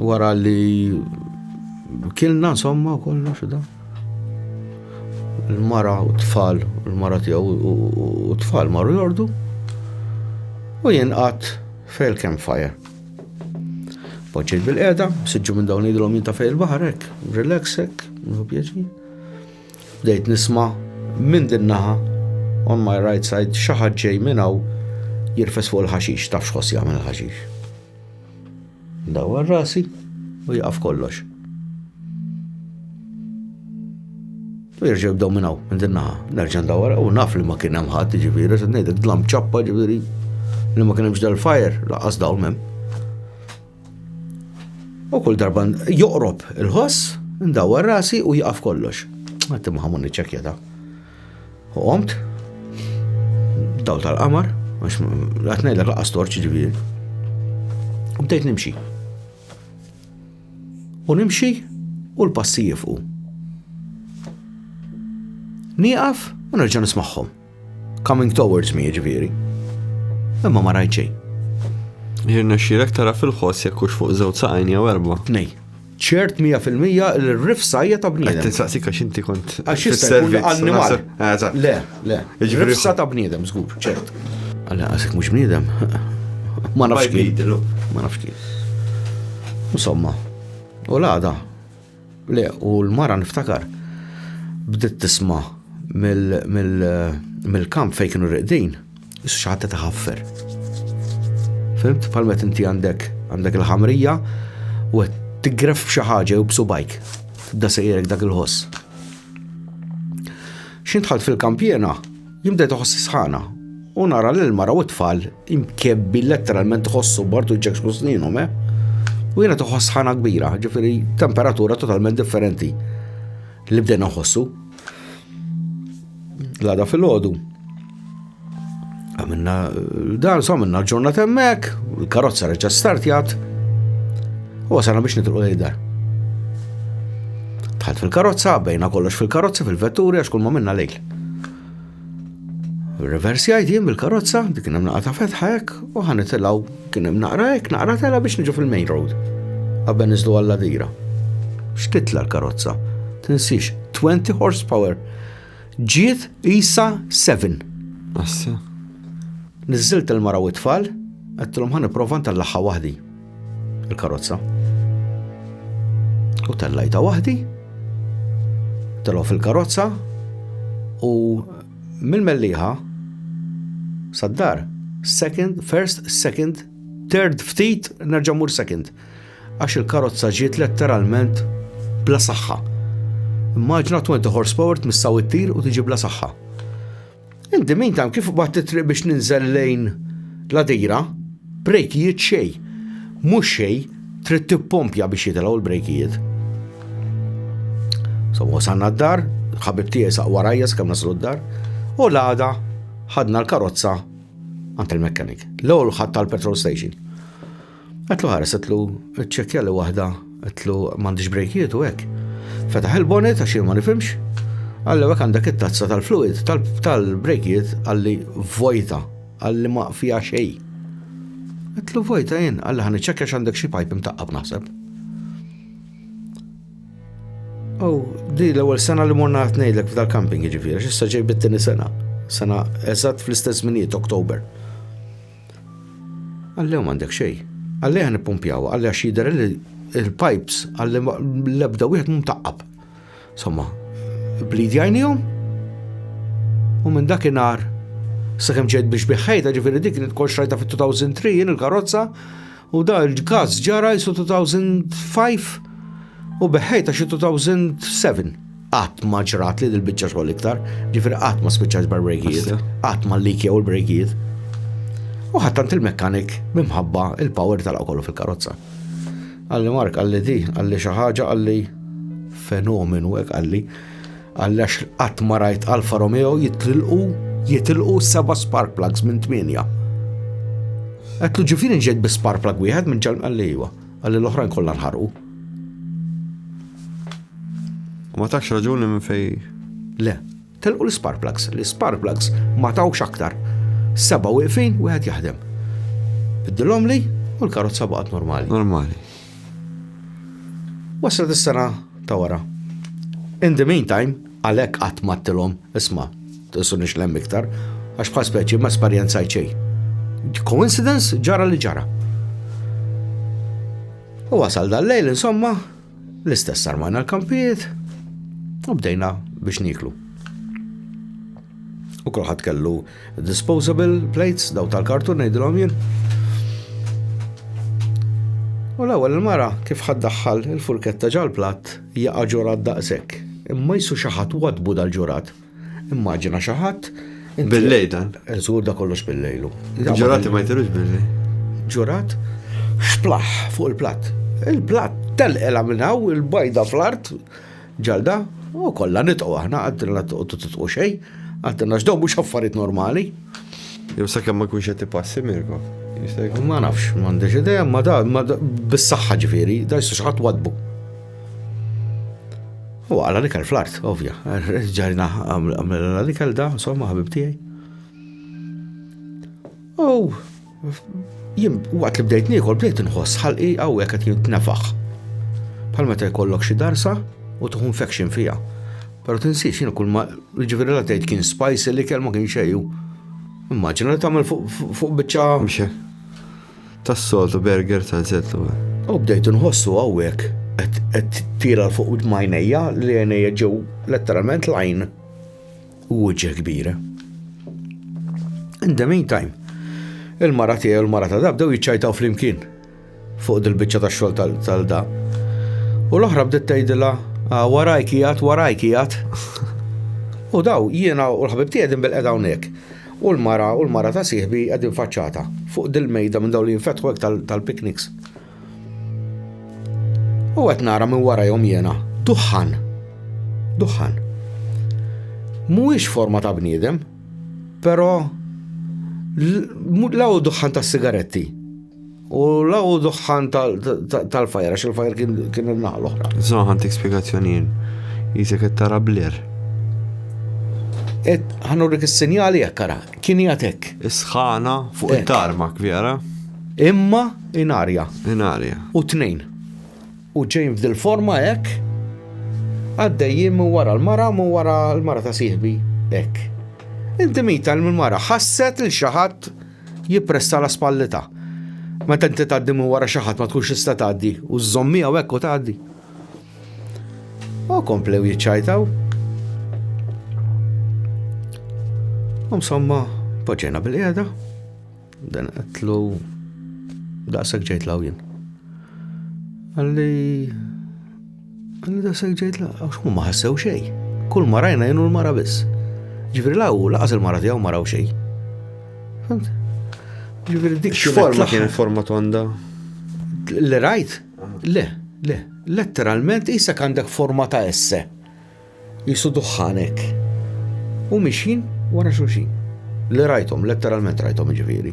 Wara li kilna insomma kollox da. Il-mara u t-tfal, il-mara tiegħu u t-tfal marru jordu. U jien qatt fejl campfire. Poġġejt bil-qeda, siġġu minn dawn idilhom jinta fejl baħar hekk, relax hekk, nħu pjaċi. Bdejt nisma' minn din naħa on my right side xi ħadd ġej minn hawn jirfes fuq il-ħaxix, taf x'ħoss jagħmel il-ħaxix. Dawwar rasi u jaqaf kollox. U jirġa jibdaw minnaw, minn din naħa. Nerġa ndawwar u naf li ma kien hemm ħadd ġifieri, se ngħidlek dlam ċappa ġifieri li ma kien hemmx dal-fajer, laqas dawl mem. U kull darba joqrob il-ħoss, ndawwar rasi u jaqaf kollox. Għattim ħamun iċċekjata. U qomt, dawl tal-qamar, għax għat ngħidla laqqa storċ ġifieri. U bdejt nimxi. U nimxi u l-passi jifqu. Nieqaf u nerġa' nismagħhom. Coming towards me ġifieri. Imma ma rajt xejn. Jirna xirek tara fil-ħoss jekk hux fuq żewġ saqajn jew erba'. Tnej. ċert 100% li r-rifsa hija ta' bniedem. Qed tinsaqsik għax inti kont. Għax jista' jkun annimal. Eh, le, le. Rifsa ta' bniedem, żgur, ċert. Għalla għasek mhux bniedem. Ma nafx kien. Ma nafx kien. Insomma, u l-għada. Le, u l-mara niftakar. Bdiet tisma' mill-kamp fejn kienu riqdin. Issu xi ħadd qed iħaffer. Fimt? Bħal meta inti għandek għandek il-ħamrija u qed tigref b'xi ħaġa jew b'subajk. Da sejjerek dak il-ħoss. Xintħalt fil-kampjena, jimda toħossi sħana u nara l mara u t-tfal imkebbi letteralment tħossu bartu ġek skusninu, me? Eh? U jena toħoss sħana kbira, ġifiri temperatura totalment differenti li bdejna nħossu. L-għada fil-ħodu. Għamilna dan, so għamilna ġurna temmek, il-karozza reġa startjat, u għasana biex nitruq l-ejda. Tħat fil-karozza, bejna kollox fil-karozza, fil-vetturi, għax kull ma minna lejl. Reversjajt jien bil-karozza, dik kien hemm naqra ta' fetħa hekk, u ħan nitilgħu kien hemm naqra hekk, naqra tela biex niġu fil-main road. Qabel niżlu għalla dira. X'titla l-karozza? Tinsix 20 horsepower. Ġiet isa 7. Assa. Niżilt il-mara u t-tfal, għattilhom ħan nipprova ntallaħħa waħdi. il-karozza. U tellajta waħdi, telgħu fil-karozza u mill-melliħa sad-dar, second, first, second, third, ftit, nerġamur second. Għax il-karozza ġiet letteralment bla saħħa. Immaġna 20 horsepower tmissaw it-tir u tiġi bla saħħa. In the meantime, kif batt it-triq biex ninżel lejn l-għadira, brejkijiet xej. Mhux xej, trid tippompja biex jitilgħu l-brejkijiet. So wasalna d-dar, ħabib tiegħi saq warajja skemm naslu d-dar, u l-għada ħadna l-karozza għand il-mekkanik. L-ewwel ħadd tal-petrol station. Għetlu ħares, għetlu ċekja li wahda, għetlu mandiġ brejkiet u hekk. Fetaħ il-bonet għax ma nifimx, għallu hekk għandek it-tazza tal-fluid tal-brejkiet għalli vojta, għalli ma fija xej. Għetlu vojta jien, għalli ħan iċċekja x'għandek xi pajp imtaqqab naħseb. Oh, di l-ewwel sena li morna qed ngħidlek f'dal-camping jiġifieri, x'issa ġej bit-tieni sena. Sena eżatt fl-istess minijiet Oktober. Għalli ma għandek xej. Għalli għan ippumpjaw, għalli għax jider li il-pipes, għalli l-ebda wieħed mum taqqab. Somma, blid jajnijom, u minn dak inar, sakem ġed biex biħħajta ġifiri dik li tkol xrajta fit-2003 jien il-karozza, U da l-każ ġara jisu 2005 u beħħejta xi 2007. Qatt ma ġrat li dil-biċċa xogħol iktar, ġifieri qatt ma spiċċajt bar-brejkijiet, qatt ma l-liki jew il-brejkijiet. U ħattant il-mekkanik mimħabba il-power tal kollu fil-karozza. Għalli Mark, għalli di, għalli xi ħaġa, għalli fenomenu hekk għalli. Għallax qatt ma rajt Alfa Romeo jitrilqu jitilqu seba' spark plugs minn tmienja. Għatlu ġifiri ġejt bi spark plug wieħed minn ġal għalli iva, għalli l-oħrajn kollha nħarqu. Ma tax raġuni minn fej. Le, telqu l-spark plugs, l-spark plugs ma tawx aktar. Seba' wieqfin wieħed jaħdem. Biddilhom li u l-karozza baqgħet normali. Normali. Waslet is-sena ta' wara. In the meantime, għalhekk qatt m'għadtilhom isma' tisunix lemm iktar, għax bħal speċi ma esperjenzajt xejn. Coincidence ġara li ġara. U wasal dal-lejl insomma, l-istess armajna l-kampijiet, u bdejna biex niklu. U kolħat kellu Disposable plates, daw tal-kartun ngħidilhom jien. U l-ewwel il-mara kif ħaddaħħal il-furketta ġal-platt jaqa' ġurat daqshekk. Imma jisu xi ħadd wadbu dal-ġurat. Immaġina xi ħadd Bil-lejl dan. Żgur da kollox bil-lejlu. Ġurati ma jtirux bil-lejl. Ġurat xplaħ fuq il-platt. Il-platt telqela minn hawn il-bajda fl-art Ġalda, u kollha nitqu aħna, għaddilna toqgħodu titqu xejn, għaddilna x'daw mhux affarijiet normali. Jew sakemm ma jkunx qed ipassi Mirko. Ma nafx, m'għandix idea, ma da, ma bis-saħħa ġifieri, da jista' xaħat wadbu. U għala l-ikel fl-art, ovvja, ġarina għamela l-ikel da, insomma, ħabib tiegħi. U Jien waqt li bdejt niekol bdejt inħoss ħalqi hawnhekk qed jintnefaħ. Bħal meta jkollok xi darsa u tuħu infection fija. Pero tinsiex jien kull ma ġifieri la tgħid kien spicy li kelma kien xejju. Immaġina li tagħmel fuq biċċa. Mxe. Tas-soltu burger ta' zettu. U bdejt inħossu hawnhekk qed tira fuq majnejja li għajnejja ġew letteralment lajn. u uġġeħ kbira. In the meantime, il-mara tiegħi u l-mara ta' da bdew jiċċajtaw flimkien fuq dil-biċċa ta' xogħol tal-da. U l-oħra bdiet tgħidilha ah, waraj kijat, waraj kijat. U daw jiena u l-ħabib tiegħi din bil-qeda hawnhekk. U l-mara u l-mara ta' sieħbi qegħdin faċċata fuq dil-mejda minn dawn li jinfetħu tal-pikniks. U qed nara minn warajhom jiena duħħan. Duħħan. Mhuwiex forma ta' bniedem, però law duħħan ta' sigaretti. U law duħħan tal-fajra, xil fajra kien il-naħal oħra. Zon ħantik spiegazzjonin. Jisek qed tara blir. Et ħanurik is-sinjali jekk kien jatek. Isħana fuq it-tarmak, vera? Imma In arja. In arja. U tnejn. U ġejn f'dil forma hekk. Għaddejjin minn wara l-mara, minn wara l-mara ta' sieħbi hekk. Inti mita minn wara ħasset il xi ħadd jippressa la spallita. Meta inti tgħaddi minn wara xi ħadd ma tkunx tista' tgħaddi u żżommija u hekk u tgħaddi. U komplew jiċċajtaw. Insomma, poġġejna bil-qiegħda. Dan għetlu daqshekk ġejt law jien. Għalli għalli daqshekk ġejt law għax ma ħassew xejn. Kull ma rajna jenu l-mara biss. Ġifieri law laqas il-mara tiegħu maraw xejn. Fimt? Ġifieri dik x'forma kien forma tonda? Li rajt? Le, le. Letteralment isa għandek forma ta' esse. Qisu duħħanek. U mixjin wara xulxin. Li rajthom, letteralment rajthom ġifieri.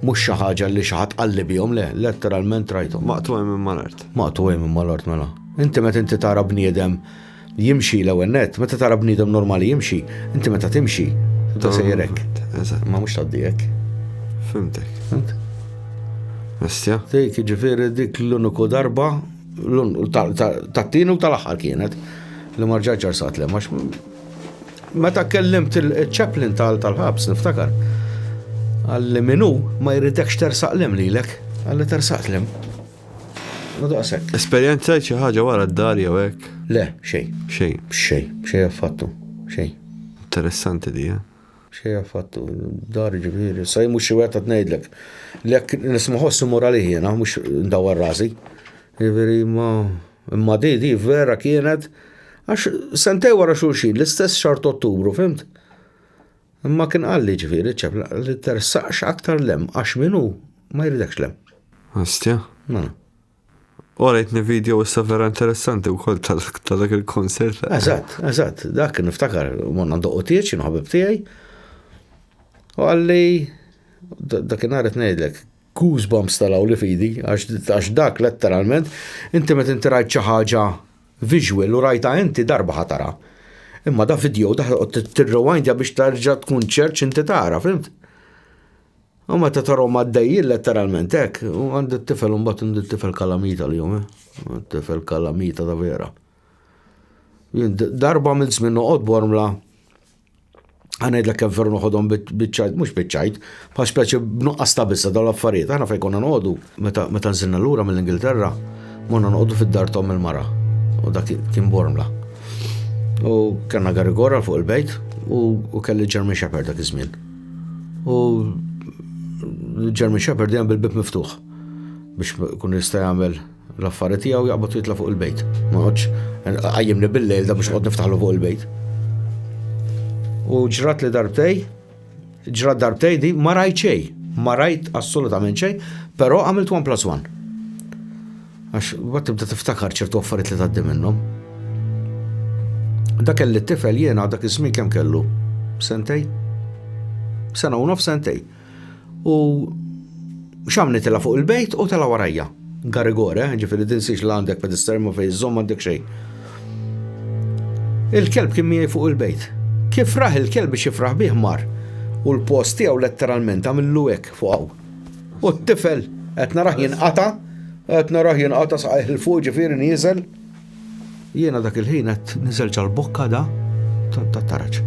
Mhux xi ħaġa li xi ħadd qalli bihom le, letteralment rajthom. Maqtuħi minn mal-art. Maqtuħi minn mal-art mela. Inti meta inti tara bniedem jimxi l-ewwel net, meta tara bniedem normali jimxi, inti meta timxi, ta' sejrek. Ma mhux taddijek. Fimtek. Fimtek. Mestja? Dik ġifieri dik l-uniku darba Tat-tieni u tal-aħħar kienet li ma rġaġ ġarsat li għax meta kellimt il-ċeplin tal-ħabs niftakar. Għalli minu ma jridekx tersaq lem lilek, għalli tersaq lem. Daqsek. Esperjenza xi ħaġa wara d-dar jew hekk? Le, xejn. Xejn. Xejn, xejn affattu. Xejn. Interessanti di, eh? X'hi affattu d-dar jiġifieri? Issa jien mhux xi wieħed qed ngħidlek li jekk nisma' ħoss immur għalih jiena mhux ndawwar rasi. Jiġifieri imma imma di di vera kienet għax sentej wara xulxin l-istess xahar ta' Ottubru, fimt? Imma kien qalli ġifieri ċef li tersaqx aktar lem għax min hu ma jridekx lem. Astja? Mela. Orajtni video issa vera interessanti u koll ta' dak il-konsert. Eżatt, eżatt, dak niftakar, monna ndoqqu tieċ, jien ħabib tiegħi. U għalli, dak nhar qed ngħidlek, goosebumps talaw li fidi, għax dak letteralment, inti meta inti rajt xi ħaġa visual u rajta inti darba ħatara. Imma da video daħ tirrewindja biex tarġa tkun ċerċ inti tara, fimt? U meta tarhom għaddejjin letteralment hekk, u għand it-tifel imbagħad għand it-tifel kalamita li jum, eh? tifel kalamita ta' vera. Darba minn żmien noqgħod bormla għanajd l-kem ferru noħodhom bitċajt, mux bitċajt, bħal speċi b'nuqqas ta' bissa daw l-affarijiet, għana fej konna noqdu, meta nżinna l-ura mill-Ingilterra, monna noqdu fid-dar tom il-mara, u dak kien bormla. U kanna garigora fuq il-bejt, u kelli ġermi xaper dak iż-żmien. U Jeremy Shepherd jgħam bil-bib miftuħ biex kun jista' jagħmel l-affari tiegħu jaqbad jitla' fuq il-bejt. Ma qodx qajjimni bil-lejl da biex qod niftaħlu fuq il-bejt. U ġrat li darbtej, ġrat darbtej di ma rajt xejn, ma rajt assolutament xejn, però għamilt 1 plus 1. Għax mbagħad tibda tiftakar ċertu affarijiet li tgħaddi minnhom. Dak kelli t-tifel jiena dak iż-żmien kemm kellu? Sentej? Sena u nof sentej. U xamni tela fuq il-bejt u tela warajja. Garigore, ġifiri din siex la għandek pedistermu fej zom għandek xej. Il-kelb kien miegħi fuq il-bejt. Kif raħ il-kelb biex jifraħ bih mar. U l-post tiegħu letteralment għamillu hekk fuq U t-tifel qed narah jinqata, qed narah jinqata saqajh il fuq ġifieri nieżel. Jiena dak il-ħin qed niżel ġal-bokka da ta' taraġ.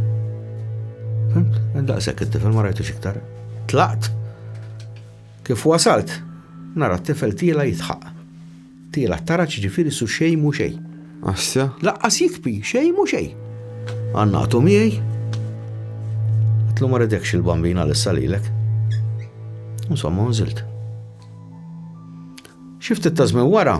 Fimt? Daqshekk it-tifel ma rajtux iktar. Tlaqt. Kif wasalt, nara t-tifel tiela jitħaq. Tiela' tara x'jiġifieri su xejn mhu xejn. Asja. Laqqas jikbi xejn mhu xejn. Għannaqtu miegħi. Għedtlu ma ridekx il-bambin għal issa lilek. Insomma, nżilt. Xi ftit ta' żmien wara,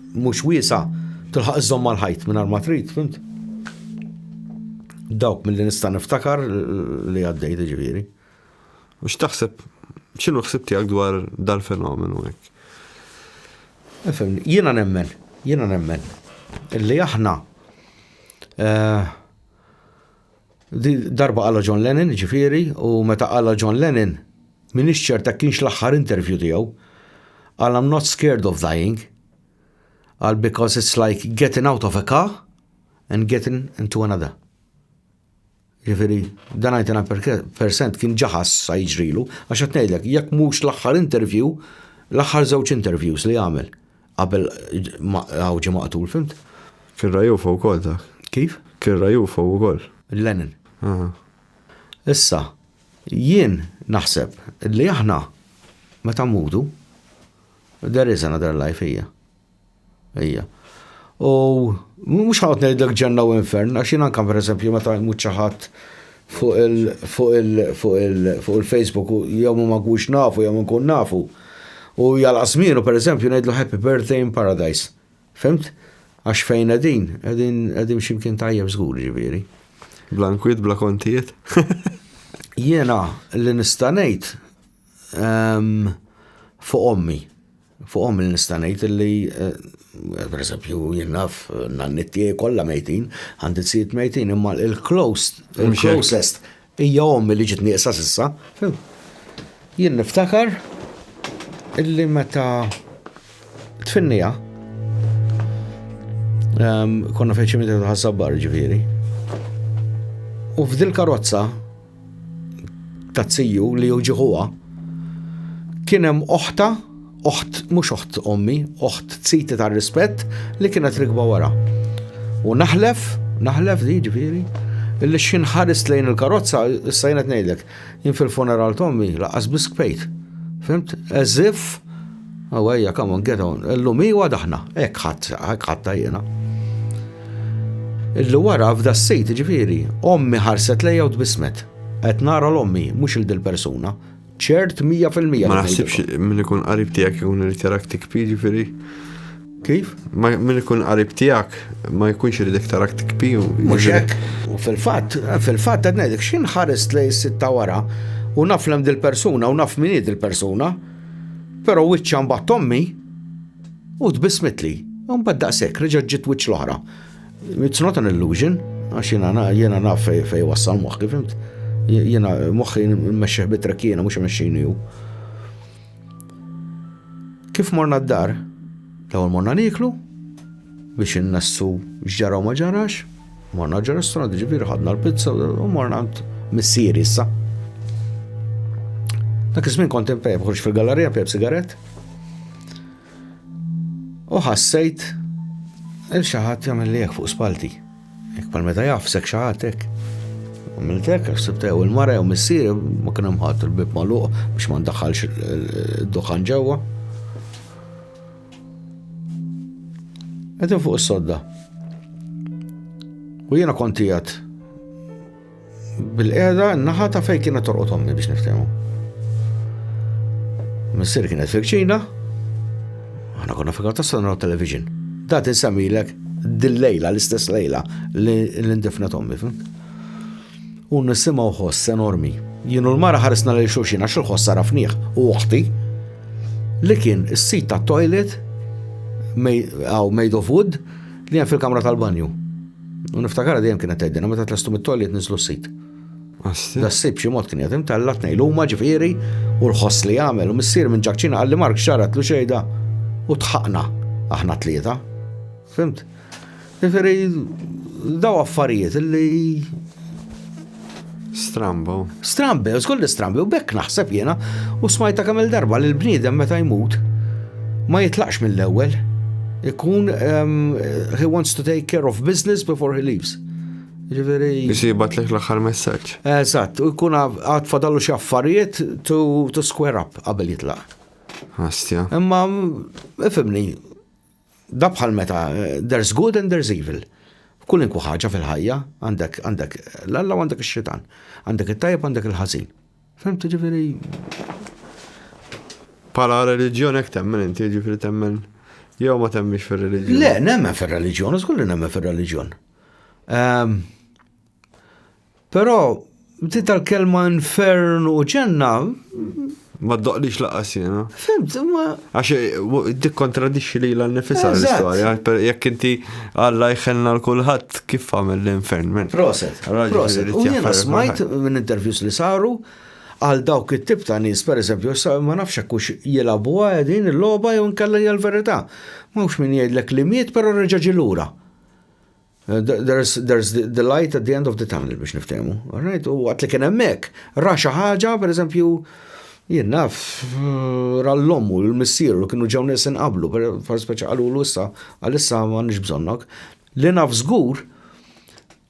mhux wiesgħa, tilħaq iżżomm mal-ħajt mingħajr ma trid, fimt? Dawk mill-li nista' niftakar li għaddejt ġifieri. U x'taħseb, x'inhu ħsib tiegħek dwar dal-fenomenu hekk? Jiena nemmen, jiena nemmen, li aħna eh, Darba qalha John Lennon, jiġifieri, u meta qalha John Lennon, m'iniex ċert hekk kienx l-aħħar interview tiegħu. Qal I'm not scared of dying. Qal because it's like getting out of a car and getting into another. Jiġifieri, dan għajtina percent kien ġaħas sa jiġrilu, għax qed ngħidlek, jekk mhux l-aħħar interview, l-aħħar żewġ interviews li għamel. Qabel ma hawn ġie maqtul, fhimt? Kien ra UFO wkoll dak. Kif? Kien ra UFO wkoll. Lenin. Aha. Issa, jien naħseb li aħna meta mmutu, there is another life, hija. Hija. U mhux ħa noqgħod ngħidlek ġenna u infern, għax jien anke pereżempju meta jmut xi ħadd fuq il-Facebook jew ma nkunx nafu jew nkun nafu u jagħlaq żmienu pereżempju ngħidlu happy birthday in paradise. Fhimt? Għax fejn qegħdin, qegħdin xi mkien tajjeb żgur jiġifieri. Bla nkwiet, bla kontijiet. Jiena li nista' ngħid ehm, fuq ommi. Fuqhom nista' ngħid li, per eżempju, jien naf n-nanniet tiegħi kollha mejtin, għandi t-sijiet mejtin, imma l-closest hija ommi li ġiet nieqsa s'issa. Jien niftakar illi meta tfinnija konna fejn ċimiteru ħaż-żabbar ġifieri. U f'dil karozza ta' tziju li hu ġiħuha, kien hemm oħta, oħt, mhux oħt ommi, oħt tziti ta' rispett li kienet rikba wara. U naħlef, naħlef di ġifieri, illi xin ħarist lejn il-karozza, issa jenet ngħidlek, jien fil-funeral tommi laqas biskpejt. Fimt? As if Aw ejja, come on, get on. Illum hi u għada aħna. Hekk ħadd, hekk ħadta jiena. Illi wara f'da s-sit ġifieri, ommi ħarset lejja u tbismet. Qed nara l-ommi, mhux il dil persuna. Ċert 100%. Ma naħsibx min ikun qarib tiegħek ikun irid jarak tikpi ġifieri. Kif? Min ikun qarib tiegħek ma jkunx irid iktar aktik piju. Mhux hekk. U fil-fatt, fil-fatt qed ngħidlek x'inħarist lej sitta wara u naf lem dil-persuna u naf min hi dil-persuna. Però wiċċha mbagħad tommi u tbissmitli. U mbagħad daqshekk reġgħet ġiet wiċċ l-oħra. It's not an illusion, għax jiena jiena naf fej wassal moħħi, fimt? Jiena moħħi mmexxih bitrek jiena mhux imexxini hu. Kif morna d-dar? L-ewwel morna niklu biex innassu x'ġara u ma ġarax. Morna ġo restaurant ġifieri ħadna l-pizza u morna għand missieri issa. Dak iż-żmien kont imfejb ħux fil-gallerija fejb sigaret. U ħassejt il xi ħadd jagħmel li fuq spalti. Jekk pal meta jafsek xi ħadd hekk. Għamiltek, sibtew il-mara jew missier ma kien hemm ħadd il-bib magħluq biex ma ndaħħalx id-duħan ġewwa. Għedin fuq s-sodda. U jena kontijat bil-qeda naħa ta' fej kienet torqot ommi biex niftemu. Missir kienet fil-ċina, għana konna fil ta' sanra television. Da' tinsamilek dil-lejla, l-istess lejla, l-indifna tommi, fim? U nisimgħu ħoss enormi. Jien u l-mara ħarisna lil xulxin għax il-ħoss arafnieh u oħti li kien is-sit ta' toilet għaw made of wood li hemm fil-kamra tal-banju. U niftakar dejjem kienet tgħidilna meta tlestu mit-toilet niżlu s-sit. Da s-sib xi mod kien jatim tella tnejlu huma ġifieri u l-ħoss li jagħmel u missier minn ġakċina qalli Mark xarat lu xejda u tħaqna aħna tlieta. Fimt? Ġifieri daw affarijiet li Strambo. Strambi, żgur li strambi, u bekk naħseb jiena u smajta kemm darba li l-bniedem meta jmut ma jitlaqx mill-ewwel. Ikun ehm, he wants to take care of business before he leaves. Ġifieri. Jisibat lek l-aħħar messaġġ. Eżatt, u jkun għad fadallu xi affarijiet to square up qabel jitlaq. Astja. Imma ifimni, Da bħal meta there's good and there's evil. Kulinkwa ħaġa fil-ħajja għandek għandek l-alla għandek ix-xitan. Għandek it-tajjeb għandek il-ħażin. Fimtu ġifieri Pala reliġjon hekk temmen inti ġifieri temmen jew ma temmix fir-reliġjon. Le, nemmen fir-reliġjon, żgur li nemmen fir-reliġjon. Ehm, Però, ti tal-kelma infern u ġenna. Ma doqlix laqas jena. Fimt, ma. Għax eh, dik kontradixxi li l-nifisa l-istoria. Jekk inti għalla jħenna l-kulħat kif għamil l-infern. Proset. Proset. U jena smajt minn intervjus li saru għal dawk it-tip ta' nies, per eżempju, ma nafx kux jilabu għadin il-loba jew nkella hija l-verità. Mhux min jgħidlek li miet, però reġa' ġilura. There's, there's the, the light at the end of the tunnel biex niftemu. Right? U għat li kien hemmhekk, ra xi ħaġa, pereżempju, jien naf ra l-lommu, l-missier, u kienu ġew nies inqablu, per speċa qalu l issa għal-issa ma nix bżonnok. Li naf żgur,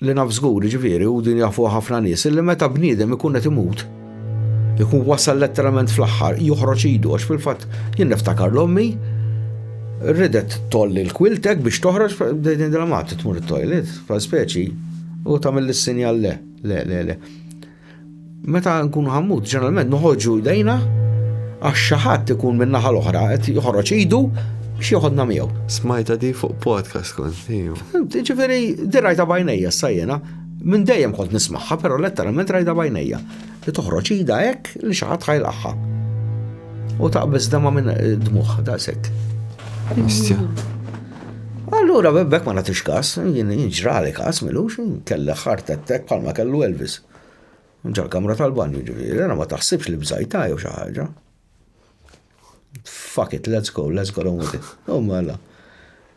li naf żgur, ġifieri, u din jafu ħafna nies, li meta bniedem ikun qed imut, Ikun wasal letteralment fl-aħħar, joħroġ idu, għax fil-fatt jien niftakar l-ommi ridet tolli l-kwiltek biex toħroġ din dramat tmur it-toilet, fa' speċi, u tagħmel is-sinjal le, le, le, le. Meta nkunu ħammut, ġeneralment noħorġu jdejna għax xi ħadd ikun min-naħa l-oħra qed joħroġ idu biex joħodna miegħu. Smajta di fuq podcast kont. Ġifieri dirajta bajnejja sajjena Minn dejjem kont nismagħha, però letteralment rajda bajnejja. Li toħroġ ida hekk li xi ħadd ħajlaqha. U taqbeż dama minn eh, dmuħ daqshekk. Istja. Allura bebbek ma nagħtix kas, jien ġrali kas milux, kelli ħart attek bħalma kellu Elvis. Ġal kamra tal-banju ġifieri, ma taħsibx li bżajta jew xi ħaġa. Fuck it, let's go, let's go on with it. Oh mela.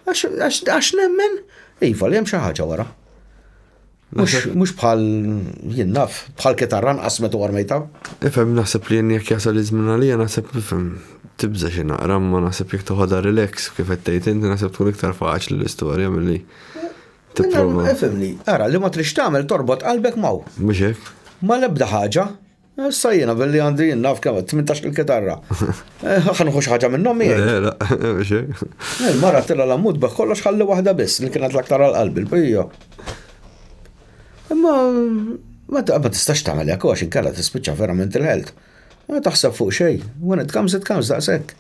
Għax nemmen, iva li hemm xi ħaġa wara. Mux bħal jinnaf, bħal kitarra nqas metu għarmejta. Ifem naħseb li jenni jek jasal izmin għalija naħseb ifem tibza xi naqra ma naħseb jek toħodha relax kif qed tgħid inti naħseb tkun iktar faċli l-istorja milli tipprova. Ifhem li, ara li ma trix tagħmel torbot qalbek maw. Mhux hekk. Ma lebda ħaġa, Issa jiena billi għandi naf kemm 18 il-kitarra. Ħa nħu xi ħaġa minnhom miegħi. Il-mara tilla l-ammut beh kollox ħalli waħda biss li kienet l-aktar għal qalbi l-pija. Imma ma tistax tagħmel hekk għax inkella tispiċċa verament il-ħelt. Ma taħseb fuq xejn, when it comes it comes daqshekk.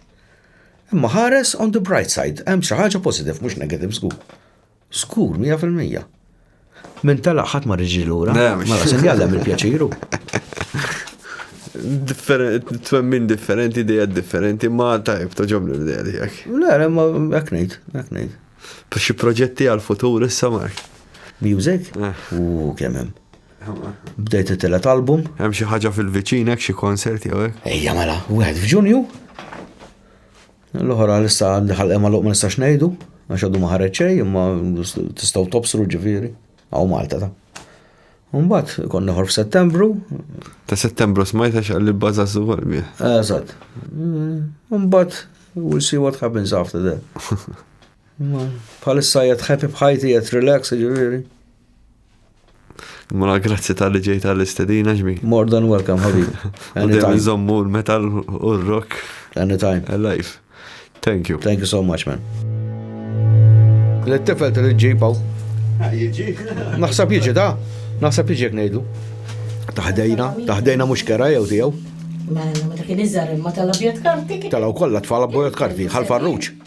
Imma ħares on the bright side, hemm xi ħaġa positive mhux negative żgur. Skur, mija fil-mija. Min tela ħadd ma riġi lura. Mela se jgħallem il-pjaċiru. Twemmin differenti, ideja differenti, ma tajb toġobni l-ideja tiegħek. Le, le, ma hekk ngħid, hekk ngħid. Xi proġetti għal-futur issa Mark? Music? Eh. U kemm hemm. Bdejt it-telet album. Hemm xi ħaġa fil-viċin hekk xi konserti jew hekk? Ejja mela, wieħed f'Ġunju, L-oħra għalissa għandha ħalqha magħluq ma nistax ngħidu għax għadu ma ħareġ xejn imma tistgħu tobsru ġifieri hawn Malta ta. Mbagħad kont neħor f'Settembru. Ta' Settembru smajta x'qal li baża żuwal mi. Eżatt. Mbagħad we'll see what happens after that. Bħalissa jgħet happy bħajti jgħet relax ġifieri. Mela grazzi tal-li ġejt għall-istedina ġmi. More than welcome, ħabib. Anytime. Nżommu l-metal u r-rock. Anytime. Alive. Thank you. Thank you so much, man. L-tifel trid ġipaw. Ah, jiġi. Naħseb jiġi da. Naħseb jiġi jek ngħidu. Taħdejna, taħdejna mhux kera jew tiegħu. Mela, ma ta' kien iżar imma tal-abjad karti. Talaw kollha tfal abjad karti, ħal farruċ.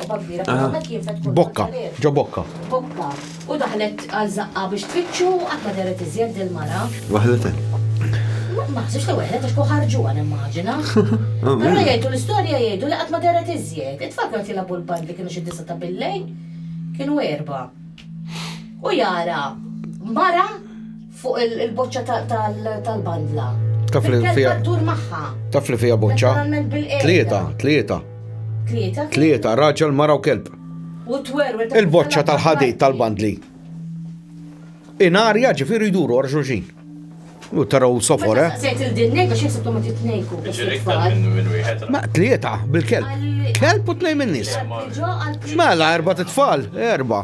Bokka, ġo bokka. Bokka. U daħlet għal zaqqa biex tfittxu għat ma deret iżjed il-mara. Waħlet. Ma ħsibx li waħlet għax ħarġu għan immaġina. Għanna jgħidu l-istorja jgħidu li għat ma deret iżjed. It-tfal kienu tilabu l-band li kienu xi disa ta' billej. Kienu erba. U jara, mara Fuq il-boċċa tal-bandla. Taf li fija. Dur magħha. Taf li fija boċċa. Letteralment bil-qeda. Tlieta, tlieta. Tlieta? Tlieta, raġel, mara u kelb. U tweru Il-boċċa tal-ħadid tal-bandli. Inarja ġifieri jduru għar xulxin. U taraw sofor, eh? Sejt il-dinnej biex jisibtu ma titnejku. Ma tlieta bil-kelb. Kelb u tnej minn nis. Mela, erba t-tfal, erba.